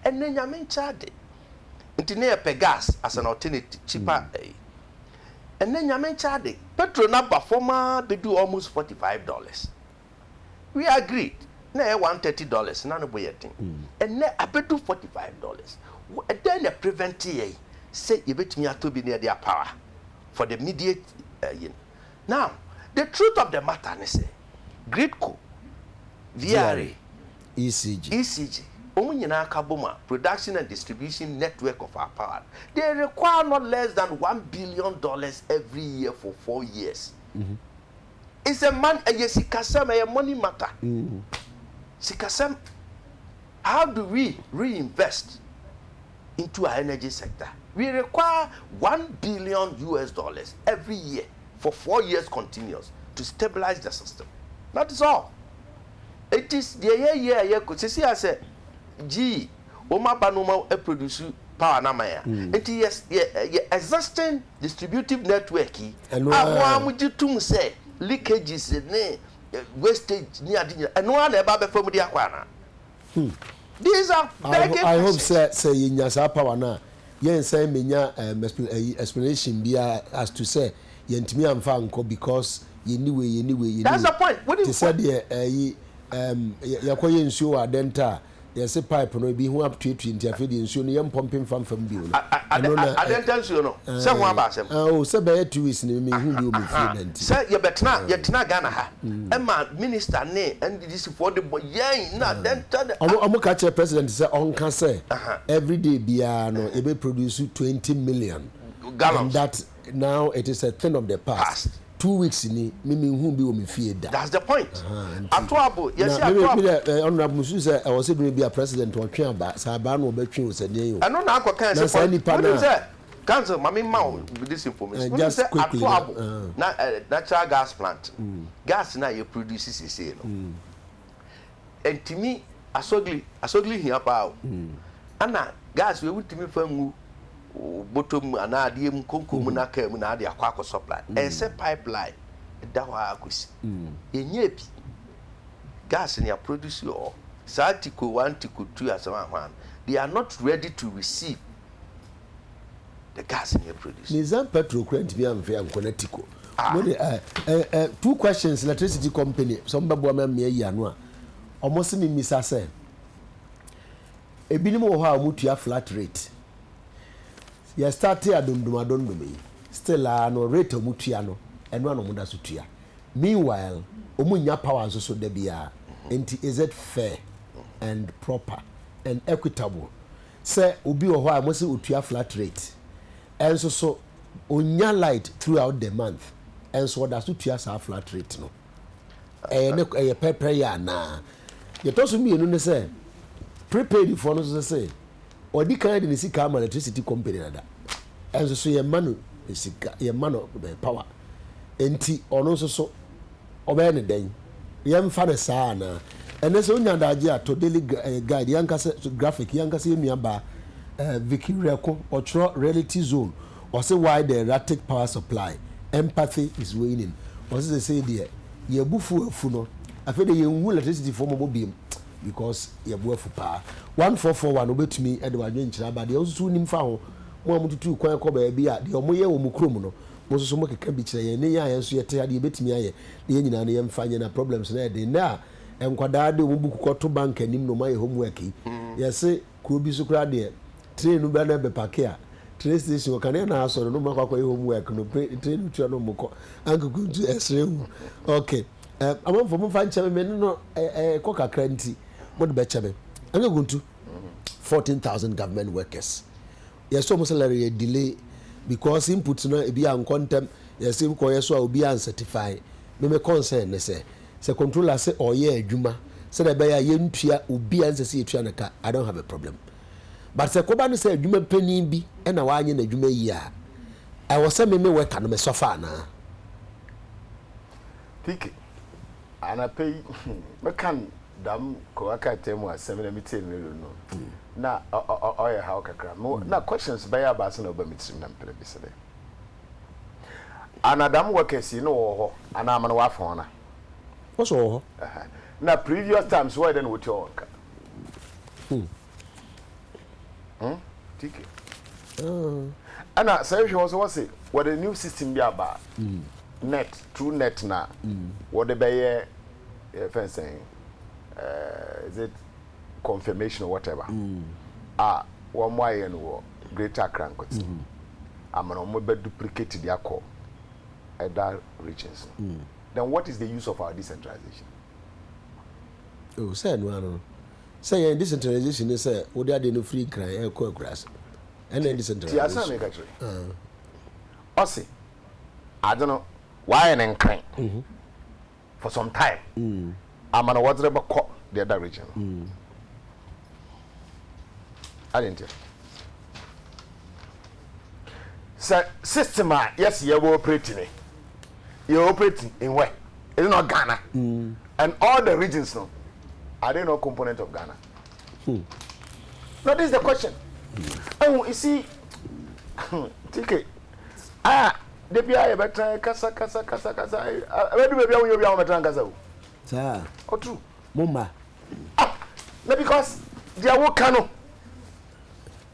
Ɛnnɛ Nyame nkyɛ ade nti na yɛpɛ gas as an alternative, cheaper. ɛnnɛ Nyame nkyɛ ade. Petrol no aba fam ara bɛduu almost forty five dollars. We agreed, na ɛyɛ one thirty dollars, na ne bo yɛ den. Ɛnnɛ abɛdu forty five dollars. Dɛn na ɛprevente yɛn sɛ yɛbɛtumi atɔ bi na yɛde apower for the immediate ayi no? Now, the truth of the matter ne sɛ. Gridco, VRA, ECG, ECG, wɔn nyinaa ka bom a, Production and Distribution Network of our Power, they require not less than one billion dollars every year for four years. It's a man, ɛyɛ sikasɛm, ɛyɛ money matter. Sikasɛm, how do we reinvest? into our energy sector. We require one billion US dollars every year for four years continuous to stabilize the system. That is all. Enti deɛ yɛyɛ a yɛkɔ sisi a sɛ gee wɔn aba no wɔn produce power no ama yɛn a, enti yɛ yɛ yɛ existing distributive network yi Ɛno a mo ara ara. mogye tom sɛ leakages ne wastage ne ade nyinaa ɛno ara na ɛba abɛfa mu de akɔ anaa? These are begging questions. I hope sɛ sɛ yɛ nya saa power no a, yɛ nsan mɛ nya um, explanation bia as to sɛ yɛ ntumi anfa ankɔ because yɛ ni wei, yɛ ni wei, yɛ ni wei. That's the point. What do you? Te sɛ deɛ ɛyi um, yɛ kɔ yɛ nsuo wɔ adɛnta a, yɛ se pipe no ebi ho atuetue nti afei deɛ nsuo no yɛ mpɔmpe nfa nfa mu bio no. Ɛno na. Adɛnta nsuo no, sɛ ho aba asɛm. Ah, oh, sɛ bɛyɛ two weeks ni mi hu bi wɔ mi fie bɛnti. Sɛ yɛ bɛtena, yɛ tena Ghana ha, ɛma minister ne. Gypsyfoɔ de bɔ yɛn na dɛn ntia na ah. Wɔn ka kyerɛ president sɛ ɔnka sɛ everyday biara no yɛbɛ produce twenty million and that now it is a thing of the past two weeks ni me me nhuu bi wɔ me fie da that's the point ato abo yɛse ato abo na me me dɛ honorable me su sɛ ɛwɔ sɛ bere bi a president ɔtwe aba sɛ aba na ɔbɛ twe o sɛ nea o ɛno na akɔ kan sɛ na saa nipa na. Council ma me ma wo this information. Wonim sɛ Ato Abo na natural gas plant gas no a yɛ produce seesei no ɛntumi Asogli Asogli hia paa o. Ɛna gas wei wontumi mfa ngu botɔ mu anaa adeɛ mu konko mu na car mu na ade akɔ akɔ supply. Ɛyɛ sɛ pipeline ɛda hɔ ara kɔsi. Yɛnyɛɛ bi. Gas no yɛ produce wɔ hɔ. Saa Tiko one Tiko two Asɛm Ahwaa no they are not ready to receive. The gas nyɛ produce. Ne nsa petrol kura ntumi anfe ankɔ na tiko. Ah. Mo de eh, eh, eh, two questions electricity company sɛ ɔmo bɛboa me amea yi ano a ɔmo se me misa sɛ ebinom wɔ hɔ a ɔmo tua flat rate yɛ starte adondom adondom yi still a ah, no rate a ɔmo tua no ɛno a na ɔmo da so tua meanwhile ɔmo nya power nso so da biara nti is it fair and proper and equitable Sɛ obi wɔ hɔ a wɔse ɔtua flat rate nso so, ɔnnya light throughout the month nso ɔda so tua saa flat rate no, ɛyɛ ne ɛyɛ pɛrpɛrɛyɛ anaa? Deɛ ɛtɔ so mmienu ne sɛ, prepaidfoɔ no nso sɛ sɛ ɔdi kan de ne sika ama electricity company dada nso so yɛmma no sika, yɛmma no power nti ɔno nso so Ɔbɛyɛ no dɛn? Yɛmfa no saa anaa? Ɛnnɛ, sɛ wunya adagye a, tɔ Daily Guide, yɛn ankasa Graphic, yɛn ankasa yɛn nuabaa eh, Vicky Reko, ɔtwerɛ Reality Zone, ɔse Why the Erratic Power Supply, Empathy is Waning. Ɔse seesei deɛ yɛn abufuo afu no, afei deɛ yɛnhu elektrisityfoɔ mmɔbɔ biom because yɛn bo afu paa. 1441, Wobɛtumi de w'adwenkyerɛ aba deɛ wosusu wonim fa ho, mo a motutu kwan kɔ baabi a deɛ wɔyɛ wɔ mo kurom no, Mo nso so mo keka bi kyerɛ yɛn ne yɛn a yɛn nso yɛ te ade yɛbɛtumi ayɛ na yɛn nyinaa no yɛn mfa nyɛ na problems no ayɛ den nnɛ a nkwadaa de wɔn buku kɔ to bank anim na wɔn ayɛ home work yi yɛ se kuro bi so koraa deɛ train no bɛ na ɛbɛ pake a train station hɔ kanea na asɔ no na wɔn akɔ akɔyɛ home work no train no tua na wɔn kɔ ankoko ntu ɛsrɛ hu ok um, amanfoɔ mo mfa nkyɛ me me ne no ɛkɔ kakra nti mo de bɛkyɛ me ankoko ntu 14,000 government workers Yɛsɔ mu salary yɛ delay because input no ebi ankɔ ntɛm, yɛse kɔyɛ so a obi ancertify. Me me concern ne sɛ, sɛ controller se ɔyɛ adwuma sɛdeɛ ɛbɛyɛ a yɛntua obi a ɛnsɛ sɛ yɛtua no ka, I don't have a problem. But sɛ ɛkɔba no sɛ adwuma panin bi na wanyɛ n'adwuma yie a, ɛwɔ sɛ me me worker no me suffer anaa? Kiki, anapa yi, me ka no Dɛm Kowakata mu asɛm na metsee no ero no, nna ɔyɛ haw kakra. Nna questions bɛyɛ abaasa na ɔba me tsirmu na mepɛ dɛ mebisa dɛ, Ana dɛm workers yi nna wɔwɔ hɔ anaa ama na wɔafa hɔn a? Wɔse wɔwɔ hɔ. Nna previous times wɔyɛ dɛn na wotua hɔn ka? Hmm? Tike. Oh. Ɛna sɛ nhwɛ wɔ so wɔ se wɔde new system bi aba. Mm. Net through net na. Mm. Wɔde bɛyɛ eh, fɛn sɛn eh, is it confirmation or whatever. Mm. A wɔn ayɛ no wɔ Greater Accra nkote. Mm. Amana wɔn bɛ duplicate de akɔ ɛda regions. Mm. Then what is the use of our decentralization? Oh, sɛ ɛno ano. Sɛ yɛn decentralization ne sɛ wode adeɛ no firi nkran ɛkɔ akuraase ɛna ɛyɛ decentralization. Tie asɛm a meka kyerɛ. Ɔse ade no wayɛ no nkran for some time ama no wɔdze rebɛkɔ the other region no. Adɛn ntia? sɛ system a yɛsi yɛ wɔ operate ne yɛ operate in where is not Ghana mm. and all the regions no are they not component of Ghana hmm. no this is the question ɛhu hmm. isi tike a debi a yɛbɛtena kasa kasa kasa kasa ɛbɛdu baabi a wonyɛ obi a wɔbɛtena nkasa o saa ɔturu mo mma ah na because deɛ woka no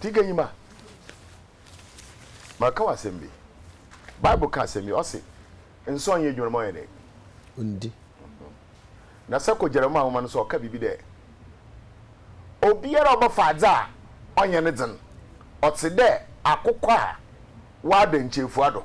Tiganyima, maka wo asɛm bi. Bible ka asɛm bi, ɔse, Nsɔɔ nyɛ edwuma no ma ɔyɛ dɛn? Ondi. Na sɛ kɔ Jeremia nwoma no so a, ɔka biribi dɛ, Obiara a ɔbɛfa adze a ɔnnyɛ ne dzen, ɔtse dɛ akokɔ a ɔada nkyeefua do.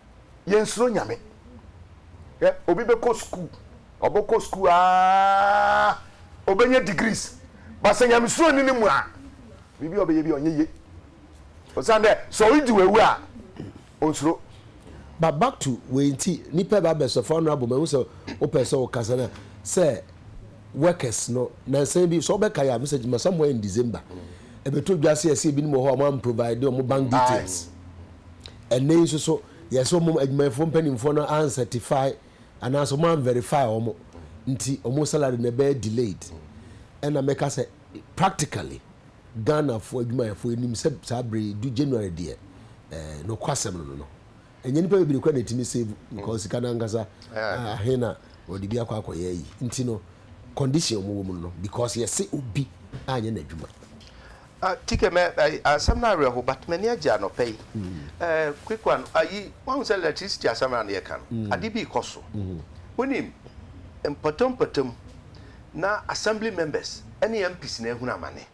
yɛnsuro Nyame. Hwɛ, obi bɛkɔ sukuu, ɔbɛkɔ sukuu aa, ɔbɛnya degrees, but sɛ nyamesuro nni ne mu a, biribi a ɔbɛyɛ bi a ɔnyɛ yie. Osiane dɛ sɛ ɔregye w'awu a, onsuro. But back to wei nti, nipa bi abɛsɔ fa ɔno abɔ mu, ɛho sɛ wopɛ sɛ wokasa no a, sɛ workers no, nansa yi bi, sɛ wobɛka yɛ a, Mister Gyimah, somewhere in December, ɛbɛtɔ dwa sɛ yɛse ebinom wɔ hɔ a wɔamprovide wɔn bank details. Aye. Ɛnnɛ yi nso so, yɛ sɛ wɔn adwumayɛfoɔ mpanimfoɔ no ancertify anaasɛ wɔn anverify wɔn nti wɔn salary no ɛbɛyɛ delayed. Ɛna mɛka sɛ practically Ghanafoɔ adwumayɛfoɔ nim sɛ saa berɛ yi du January deɛ eh, nokwasɛm no no no ɛnyɛ nipa bebree kora na ɛtumi save because sika no ankasa ah, ahe na wɔde bi akɔ akɔyɛ yi nti no condition wɔn wɔ mu no because yɛse obi anyɛ n'adwuma. Tike mɛ ɛyi asɛm no awerɛho but m'ani agye anɔpa yi eh, quick one ayi wahu sɛ electricity asɛm a na yɛka no ade bi rekɔ so wonim mpɔtampɔtam na assembly members ɛne MPs na ahunu amane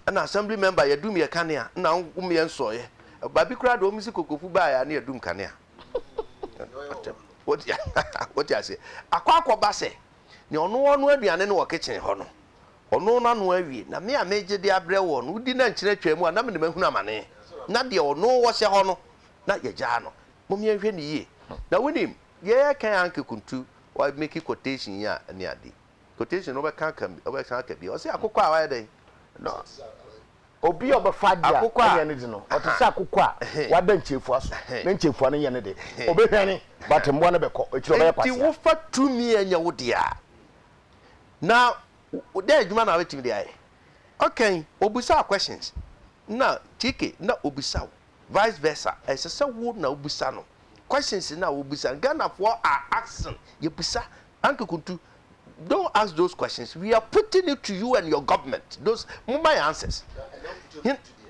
ɛna assembly member yɛdum yɛ kanea na wo meɛ nsɔeɛ baabi koraa de wɔn si kokofu baeɛ a na yɛdum kanea wote aseɛ akɔ akɔba sɛ nea ɔno ɔno aduane no wɔ kitchen hɔ no Ɔnoo n'ano awie, na me a meregye de abrɛ wɔn no, wodi na nkyene twaa mu a, na me de mahunu amane. Ná deɛ ɔnoo wɔ sɛ hɔ no, na yɛagyaa no. Mom yɛnhwɛ no yie. Na wonim, deɛ yɛreka yi anke kuntu, wa make quotation yi a, ɛne ade. Quotation no, wobɛka aka, wobɛsan aka bio. Ɔse akokɔ a wayɛ dɛn? Na. Obi a ɔbɛfa adeɛ a, ɛnyɛ ne de no. Ɔte sɛ akokɔ a wada nkyefua so, na nkyefua no nyɛ ne de. Ɔbɛhwane, but mmoa no bɛkɔ akyire, ɔbɛyɛ kwasea. Enti wofa tumi a ɛnyɛ wo dea a, na dɛn edwuma na ebetumi de ayɛ? Okay, obisaa questions na TK na obisa wo, vice versa, ɛsɛ sɛ wo na wobisa no questions na wobisa no. Ghanafoɔ are asking, yɛbisa, Anke Kuntu, don't ask those questions, we are putting it to you and your government, those, momma yɛn answers.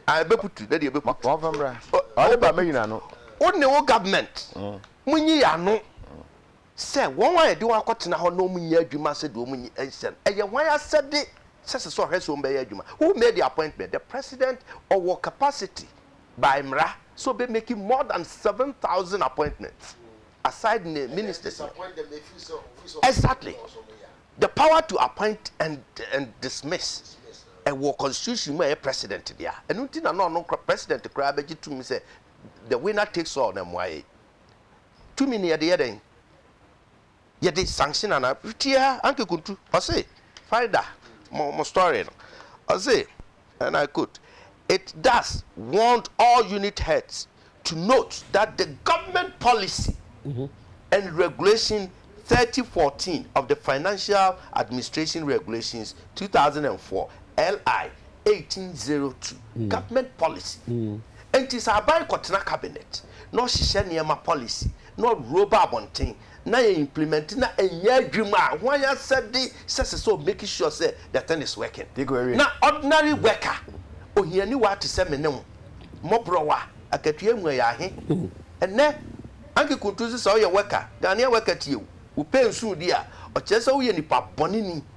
Ah, ɛbɛputu, na deɛ ɛbɛputu. Wɔmfa mmra, ɔde ba mɛnyina no. Wo ne wo government, monyi yɛn ano. Sɛ wɔn a yɛde wɔn akɔtena hɔ na wɔnyɛ adwuma sɛdeɛ wɔnyi nhyɛ no, ɛyɛ hwan asɛde sɛ ɛsɛ sɛ ɔhwɛ sɛ wɔbɛyɛ adwuma? Who made the appointment? The president ɔwɔ capacity by mmara sɛ ɔbɛ make more than seven thousand appointments aside ne ministers no. Exactly. The power to appoint and and dismiss ɛwɔ constitution mu a ɛyɛ president dea. Ɛno nti na na ɔno president koraa bɛgye tumi sɛ the winner takes all na mmoa yɛn. tumi no yɛde yɛ dɛn? Yɛde sanction ana? Tia Anke Kuntu, ɔse Farida mo mo story no, ɔse and I quote, it does want all unit heads to note that the government policy and regulation thirty fourteen of the Financial Administration Regulations two thousand and four, LI, 1802, Government Policy, Enti sɛ aban kɔtena cabinet na ɔhyehyɛ nneɛma policy na ɔworo ba abɔnten na yɛ implement na ɛnyɛ adwuma a, hwan asɛde sɛ ɛsɛ sɛ ɔ make sure sɛ the thing is working? Na ordinary worker, ohianiwa te sɛ me ne wo, mmɔborɔwa, akatua emu ayɛ ahe? Ɛnnɛ, Anke Kuntuzi sɛ woyɛ worker, Ghanaian worker tie wo, wopɛ nsu di a, ɔkyerɛ sɛ woyɛ nipa bɔneni.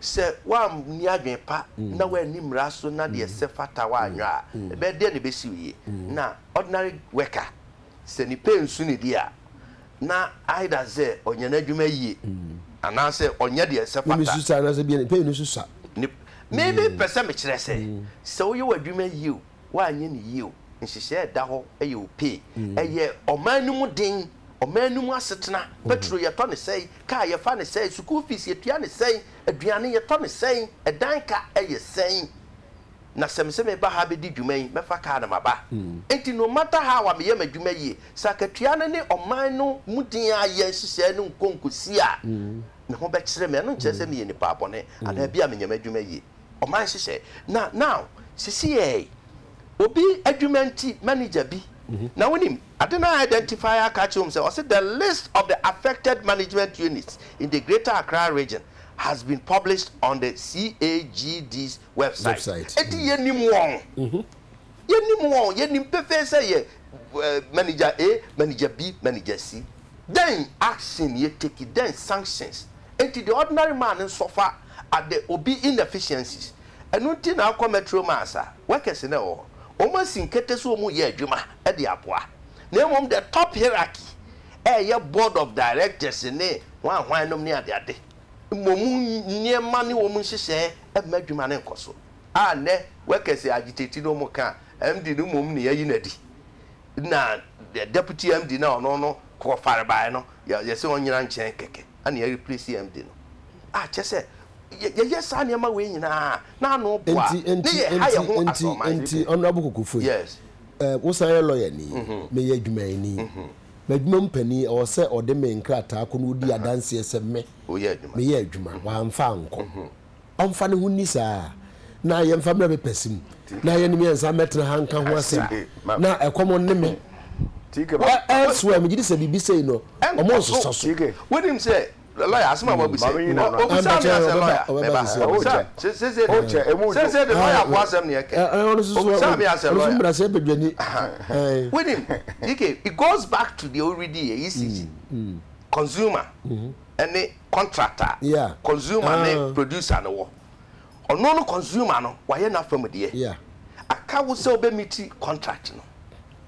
Sɛ woanni adwene pa na woanni mmara so na deɛ ɛsɛ fata wo anyɔ a, ɛbɛyɛ deɛn na ɛbɛsi wo yie? Na ordinary worker, sɛ ne pay nso ne deɛ a, na either sɛ ɔnyɛ n'adwuma yie anaasɛ ɔnyɛ deɛ ɛsɛ fata. Mesu saa anaasɛ bia ne pay no nso sua? Maybe pɛ sɛ mekyerɛ sɛ, sɛ woyɛ w'adwuma yie o, Woanyɛ no yie o, nhyehyɛɛ a ɛda hɔ yɛ o pee, ɛyɛ ɔman no mu den, ɔman no mu asetena, petro yɛtɔ no sɛn, kaa yɛfa no sɛn, sukuu fees yɛtua no sɛn, aduane yɛtɔ no sɛn, ɛdan ka yɛ sɛn, na sɛ mese meba ha bɛdi dwuma yi, mɛfa kaa na maba. Enti no matter how a meyɛ m'adwuma yie, sɛ akatua no ne ɔman no mu den a yɛ nhyehyɛɛ no nkɔ nkɔsi a, me ho bɛkyere me, ɛno nkyerɛ sɛ meyɛ nipa bɔne anaa bi a menyɛ m'adwuma yie. ɔman hyehyɛ na now sisi yɛ yi obi adwuma nti manager bi na wonim ade no a identify aka akyerɛ wɔn sɛ ɔse the list of the affected management units in the greater Accra region has been published on the CAGD's website eti yɛnim wɔn yɛnim wɔn yɛnim pefee sɛ yɛ manager A manager B manager C dɛn action yɛ take dɛn sanctions Enti the ordinary man no suffer at the obi inefficiencies. Ɛno nti na wokɔ metro mass a, workers na ɛwɔ hɔ. Wɔasi nkete sɛ wɔyɛ adwuma de aboa. Na mmom the top hierarchy a ɛyɛ board of directors ne hwan hwan nom ne ade ade, mmom nneɛma ne wɔn nhyehyɛɛ mma adwuma no nkɔ so. A nnɛ workers agitate no wɔka a, MD no mmom na yɛayi no adi. Nna deputy MD no a ɔno no kɔfar bae no, yɛse ɔnnyina nkyɛn kɛkɛ, ana yɛreplace MD no. Ah, kyerɛ sɛ, yɛyɛ saa nneɛma wei nyinaa a, na ano bo a, na yɛha yɛn ho asorɔman. Nti, nti, nti, Honourable Kokofoe, eh, wosan yɛ lawyer ni, meyɛ adwumayɛni. M'adwuma mu panin, ɛwɔ sɛ ɔde me nkrataa kɔ na ɔdi adanseɛ sɛ me, meyɛ adwuma, wamfa ankɔ. ɔmfa ne ho nni saa a, na yɛmfa mmrɛ me pɛse mu, na yɛne mmiɛnsa mmɛtena ha nka ho asɛm, na ɛkɔm nne me. Ɛ, ɛnsoɛ, megye di sɛ biribi sei no, wɔnsosɔ so. Wonim sɛ, lɔya, asɛm a woabisa yi, ɔ, obisaa me ara sɛ, lɔya, mɛba, obisaa me, se, seesei de, seesei de, lɔyafoɔ asɛm na yɛkɛ. Obisaa me ara sɛ, lɔya, ahaa, wonim, TK, it goes back to deɛ woredi yɛ, ECC, consumer. ne contract a Yeah. consumer ne Ah. producer no wɔ. Ɔno no consumer no wayɛ n'afam deɛ. Yeah. Aka wo sɛ wobɛ meet contract no.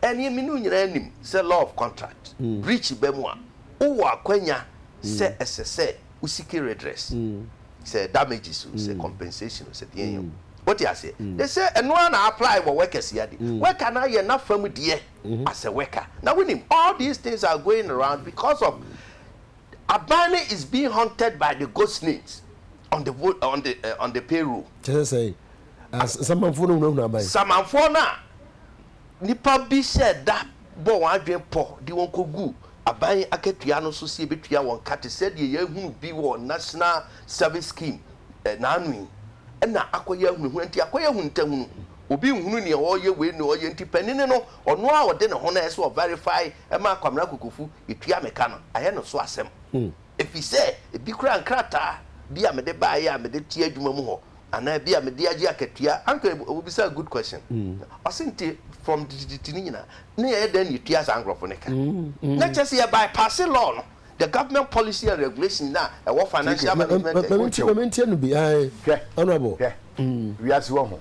Ɛneɛ me ne wo nyinaa nim sɛ law of contract breach ba mu a, wowɔ akwanya sɛ ɛsɛ sɛ wo seek redress. Sɛ damages o, sɛ compensation o, sɛ deɛn o. Wote aseɛ? They say ɛno ara na apply wɔ workers yi ade. Worker no ayɛ n'afam deɛ as a worker. Na wonim all these things are going around because of Abane is being haunted by the ghost names on the vote on the uh, on the payroll. kyerɛ sɛ as nsamanfoɔ no hunahuna aban. samanfoɔ no a nipa bi hyɛ da bɔ wɔn adwene pɔ de wɔn kɔgu aban akatua no so sɛ yɛbɛtua wɔn ka te sɛ deɛ yɛahunu bi wɔ national service scheme eh, naano yi ɛna akɔyɛ ahunahuna nti akɔyɛ ahuntahunu obi nhunu nea ɔyɛ wei ne ɔyɛ nti panini no ɔno a ɔde ne ho no ɛsɛ ɔverify Ɛma Kwamina Kokofu tua me ka no ayɛ no so asɛm efisɛ ebi koraa nkrataa bi a mede baeɛ a mede te adwuma mu hɔ anaa bi a mede agye akatua anka wobisaa good question ɔse nti from titititi no nyinaa na yɛyɛ dɛn na yɛtua saa nkorɔfo no ka na kyerɛ sɛ yɛ bypasse law no the government policy and regulation no a ɛwɔ financial management and Wotie o, ma mentie no bi, ae, hwɛ, Honourable. hwɛ, wiase wɔ ho.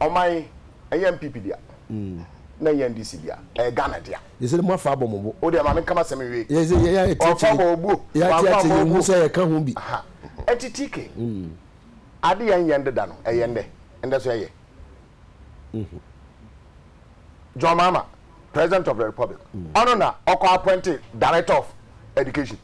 ɔman yi ɛnyɛ NPP dea na ɛnyɛ NDC dea ɛyɛ Ghana dea. Yɛsɛ dɛ mo afa abɔ mo bo. O deɛ ma me nka m'asɛm nwie. Yɛsɛ yɛ yɛ ɛtiɛtiɛ. Ɔfa bɔ obuo. Yɛ atiatia yɛ hu sɛ yɛ ka ho bi. Aha ɛti TK ade yɛn yɛ ndeda no ɛyɛ ndɛ ndɛ so ɛyɛ. John Mahama president of the republic ɔno na ɔkɔ appoint director of education.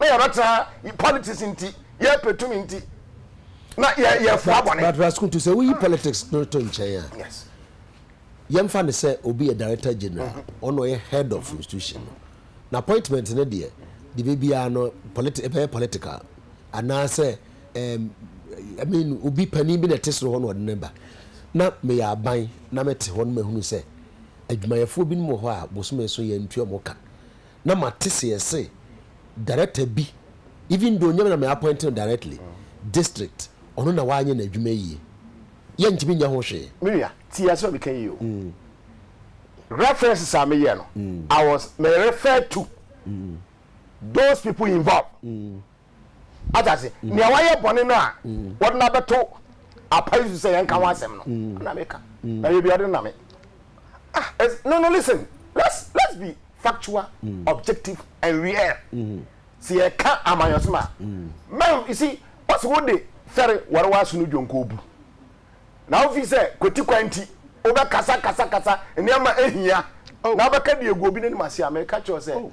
na yɛbɛtena ha yi politics nti yɛpɛ tumi nti na yɛ yɛfua bɔne. but raskutu sɛ woyi politics no to nkyɛn a yes yɛmfa no sɛ obi yɛ director general mm-hmm. ɔno ɔyɛ head of mm-hmm. institution no na appointment no deɛ deɛ bɛbiara no politi ɛbɛyɛ political anaasɛ um, I mean obi panin bi na ɛte soro hɔ na ɔde ne ba na meyɛ aban na mete hɔ no mahunu sɛ adwumayɛfoɔ binom wɔ hɔ a bosome so yɛntua mo ka na mate seɛ se director bi even though nyɛ me na me appoint no directly, district ɔno na wanyɛ n'adwuma yie. Yɛ ntumi nyɛ ho hwee. Me nua, tie asem a meka yi yie o. References a me yɛ no, I was, me refer to those people involved. ate ase mm. nea wayɛ bɔne no a mm. wɔde no abɛto apa yi so sɛ yɛnka ho mm. asɛm no na meka na yɛ bi ɔde name ah no no listen let's let's be factual objective and real sɛ yɛka amanyɔsɛm a mɛn you see wɔsi wo de fɛre wɔre wɔaso no dwonko bu na wofi sɛ kwati kwan nti wobɛkasa kasa kasa nneɛma ehia oh. na wobɛka deɛ egu obi n'anim ase a mɛka kyerɛw sɛ oh.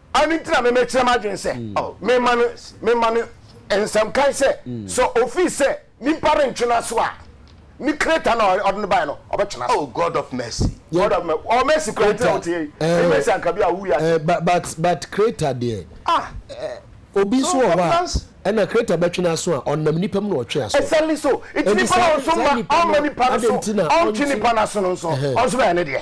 Ɛno nti na memekyerɛ m'adwene sɛ memma no memma no nsɛm kan sɛ, sɛ ofii sɛ nipa rentwe no aso a, ne kreta no a ɔde no bae no, ɔbɛtwe no aso. Oh God of mercy. God of mercy. Ɔwɔ mercy kura nti na wote yɛ yi. Ne mercy anka bi a wowu yɛ ase. But but kreta deɛ. Ah. Obi nso wɔ hɔ a ɛna kreta bɛtwe no aso a ɔnam nipa mu na ɔtwe aso. Exactly so. Nti nipa na ɔnso ma ɔma nipa no so ɔntwe nipa no aso no nso ɔnso bɛyɛ ne deɛ.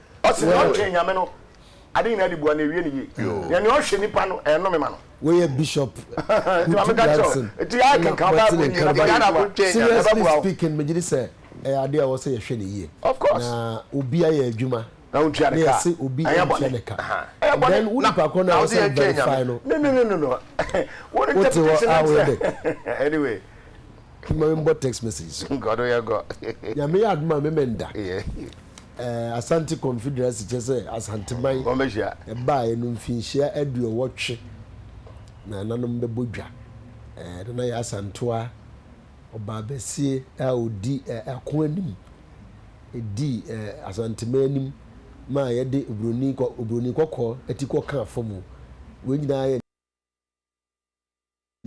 Ɔse nea ɔtwen Nyame no ade nyinaa de bua no ewie no yie na nea ɔhwɛ nipa no ɛnome ma no. Wei yɛ Bishop Kutu Brunson ɛna wɔte ne nka no ba no. Seriously speaking megye di sɛ ɛyɛ ade a ɛwɔ sɛ yɛhwɛ no yie na obi ayɛ adwuma na yɛse obi ntua ne ka and then wo nipa korɔ no a ɛwɔ sɛ wo verify no wote hɔ a woyɛ dɛ. Mma me mbɔ text message so nka ɔno yɛ gɔ. Nyame yɛ adom a me mɛ nda. Eh, Asante Confederacy kyerɛ sɛ Asanteman ɛbaeɛ no mfinhyia aduɔwɔtwe na nananom bɛbɔ dwa. Eh, Nana Yaa Asantewa, ɔbaabasie a ɔdi eh, ako anim, ɛdii eh, Asanteman anim maa yɛde obroni kɔ, obroni kɔkɔɔ ti kɔ kaa fɔmu. Wei nyinaa yɛ.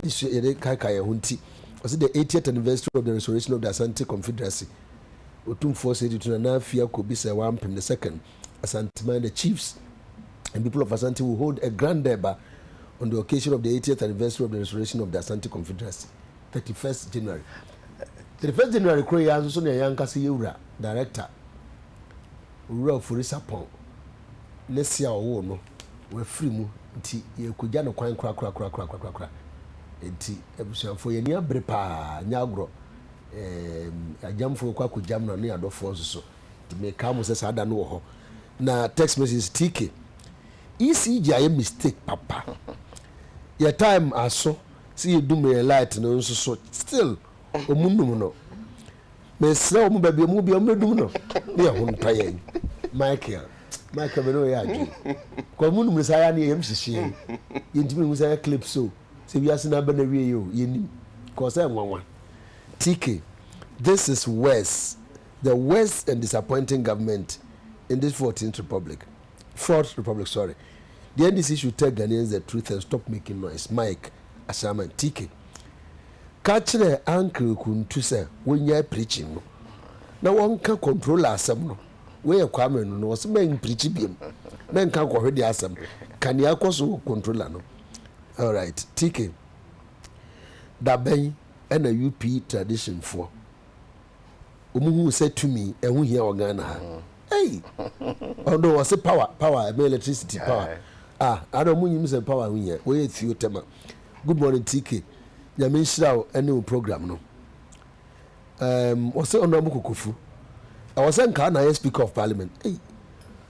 Yɛsua yɛde kaekae yɛn ho nti, ɔse the 80th anniversary of the restoration of the Asante Confederacy, Otumfoɔ Osei Tutu Nana Afi Ako bi sɛ waa mpem ne second, Asanteman, the chiefs and people of Asante will hold a grand Durbar on the occasion of the 80th anniversary of the restoration of the Asante Confederacy, 31st January. 31st January koro yi ara nso so na yɛn ankasa yɛwura, director, Owura Ofori-Sarpong ne se a ɔwoo no wɔ afiri mu nti, yɛrekɔgya no kwan korakorakorakorakorakoraa. Enti abusuafoɔ, yɛn ani abere pa ara, ɛnyɛ agorɔ. Eeem, agyamfoɔ rekɔ akɔgyam no, ne adɔfoɔ nso so. Nti mekae mo sɛ saa da no wɔ hɔ. Na text messages, TK, ECG ayɛ mistake papa. Yɛn time aso sɛ yɛdum yɛn light no nso so, still. ɔmo num no mesrɛ ɔmo baabi ɔmo bia ɔmo bɛdum no ne ɛho ntɔ yɛn michael michael bɛne ɔyɛ adwene kɔ ɔmo num no saa yɛ ne yɛyɛm hyehyeɛ yɛntumi hu sɛ clip so sɛ wiase no abɛ na wie yɛ o yɛnim kɔ sɛ nwanwa tk this is worse the worst and disappointing government in this 14th republic fourth republic sorry the ndc should tell ghanaians the truth and stop making noise mike ashaman tk Ka kyerɛ Ankre Kuntu sɛ wonnyae preaching no na wɔnka controller asɛm no. Wei yɛ Kwame no na ɔse mɛn preachi biom, mɛnka nkɔhwedeɛ asɛm. Ka nea ɛkɔ so wɔ controller no. Alright TK, da bɛn ɛna UP tradition foɔ ɔmo huu sɛ tumi ɛho hia wɔ Ghana ha? Ei! Ɔno ɔse power, power, ɛmɛ electricity power. Ah, ada ɔmo nyim sɛ power ho hia, wɔyɛ theo tema. Good morning TK Nyame nhyira wo ɛne wo program no um, wɔsɛ Honorable Kokofu ɛwɔ sɛ nkaa na ayɛ Speaker of Parliament ei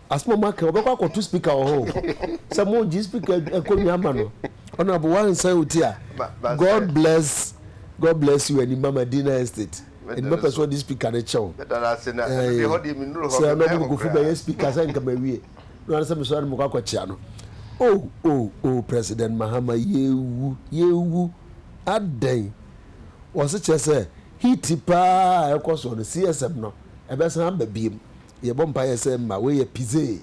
asɛm ɔmo aka wɔbɛkɔ akɔto Speaker wɔ hɔ sɛ mo gye Speaker akonnwa ama no Honorable wansɛn wo ti a God bless God bless you ɛni mama Dina Estate ɛni mapɛ sɛ ɔde Speaker no kyɛw sɛ Honorable Kokofu bɛyɛ Speaker sɛ nka mawie Ná ɔne sɛ mesɔre na mekɔ akɔkyea no. Oh, oh, oh, President Mahama, yɛrewu, yɛrewu. Adɛn? Wɔse kyerɛ sɛ, heat paa a ɛrekɔ soɔ no, CSM no, ɛbɛsan aba biom. Yɛbɔ mpaeɛ sɛ mma wei yɛ pizzee,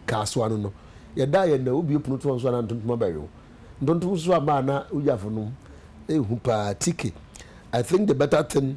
kaa so ano no. Yɛda a yɛnna wobue pono to wɔn so a na ntontom abɛwe wo. Ntontom nso ama a na wogyafo nom. Ehu paa, Tike, I think the better thing.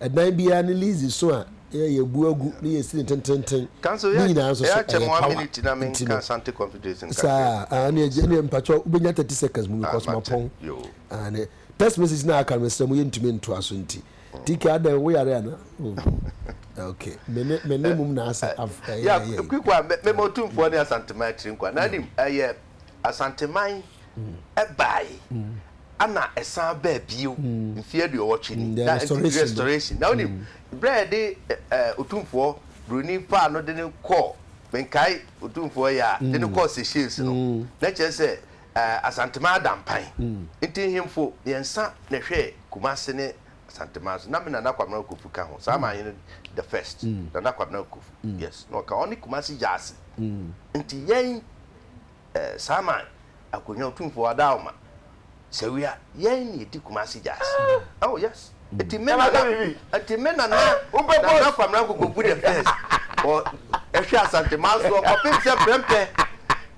Ɛdan biara ne lease so a yɛabu agu ne yɛasi no tenteenten ne nyinaa nso so, ɛyɛ power nti no saa. Aane agya, ɛneɛ mpakyɛw wobɛnya thirty seconds mu because mapɔn. Aane, text message no a aka no mesrɛ mo yɛntumi ntoa so nti. TK, adɛn wo yare anaa? Oh, ok, me ne, me ne mum na asɛ, af, ɛyɛ, ɛyɛ. Yeah, Quick one, me, me ma Otumfoɔ ne Asantema akyiri nkwa, na anim, ɛyɛ Asanteman ɛbae ɛna ɛsan baa bio mfeɛ aduɔwɔtwe ni na ɛnti restoration na wonim berɛ yɛde otumfoɔ buroni faa no de no kɔɔ menkae otumfoɔ yɛ a de no kɔɔ Seychelles no na kyerɛ sɛ Asanteman ada mpan nti nhemfo mmiɛnsa na ɛhwɛɛ Kumasi ne Asanteman so na me Nana Kwabena Kofu ka ho saa manhene the first Nana Kwabena Kofu yes na ɔka ɔne Kumasi Gyasi nti yɛn eh, Saman, Akonya Otumfoɔ Adaoma, Sawia, yɛn na yɛdi Kumasi Jazz. Ah! Oh yes. Nti me nana, nti me nana, nana Kwamina Nkokogu the first, ɔ, ɛhwɛ Asante Mansoɔ kɔpem sɛ Prɛmpɛ,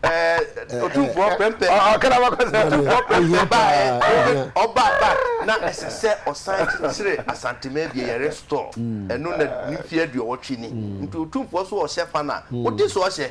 eh, Otumfoɔ Prɛmpɛ, Otumfoɔ Prɛmpɛ baɛ, ɔba ba, na ɛsɛ sɛ ɔsan kyekyere Asante Man bie, yɛre store, ɛno na ne mfie aduɔwɔtwe ni. Nti Otumfoɔ so ɔhyɛ fa no a, wode so ɔhyɛ.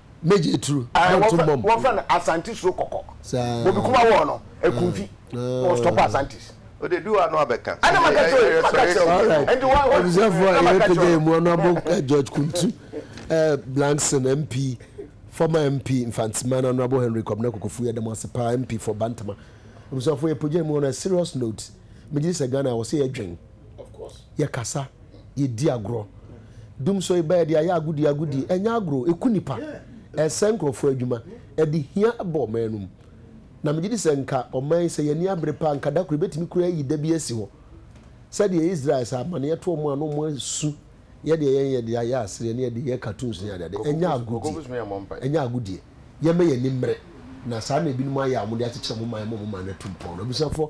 Major Aturu. Ɛɛ Dɔnto wɔfrɛ Mbɔm. wɔfrɛ no Asante Suro Kɔkɔ. Saa. Bobi Kuma wɔɔ no Akumfi. Ah, Wɔɔ stop ah. Asantes. Ode du ano abɛka. Ɛna maka kyerɛ wo, maka kyerɛ wo. Alright. Ɛnti wa wa Abusuafoɔ a ɛna maka yɛrepagya kyerɛ yɛn mu ɔno abɔ eh, George Kuntu eh, Blankson MP former MP Mfantsima na ɔno abɔ Henry Kwabena Kokofu yɛda mo ase paa MP for Bantama Abusuafoɔ yɛpagya yɛn mu ɔno a serious note megye di sɛ Ghana wɔ sɛ yɛdwen yɛkasa, yɛdi agorɔ. Dumsɔ yi ba yɛde ayɛ agodie agodie. Ɛnyɛ agorɔ, ɛku nnipa, ɛsɛe nkurɔfoɔ adwuma, ɛde hia ba ɔman anom. Na megye di sɛ nka ɔman yi sɛ yɛn ani abere paa nka da koro yɛbɛtumi koraa ayi da bi asi hɔ. Sɛdeɛ Israel sɛ amaneɛ to wɔn a na wɔn asu yɛ deɛ yɛn yɛde ayɛ asereɛ ne yɛde yɛ cartoons ne adeade. Ɛnyɛ agodie, ɛnyɛ agodie. Yɛmma yɛn ani mmere. Na saa na ebinom ayɛ a wɔde akyekyere wɔn man, ɛma wɔn man no atu mpɔn. Abusuafoɔ,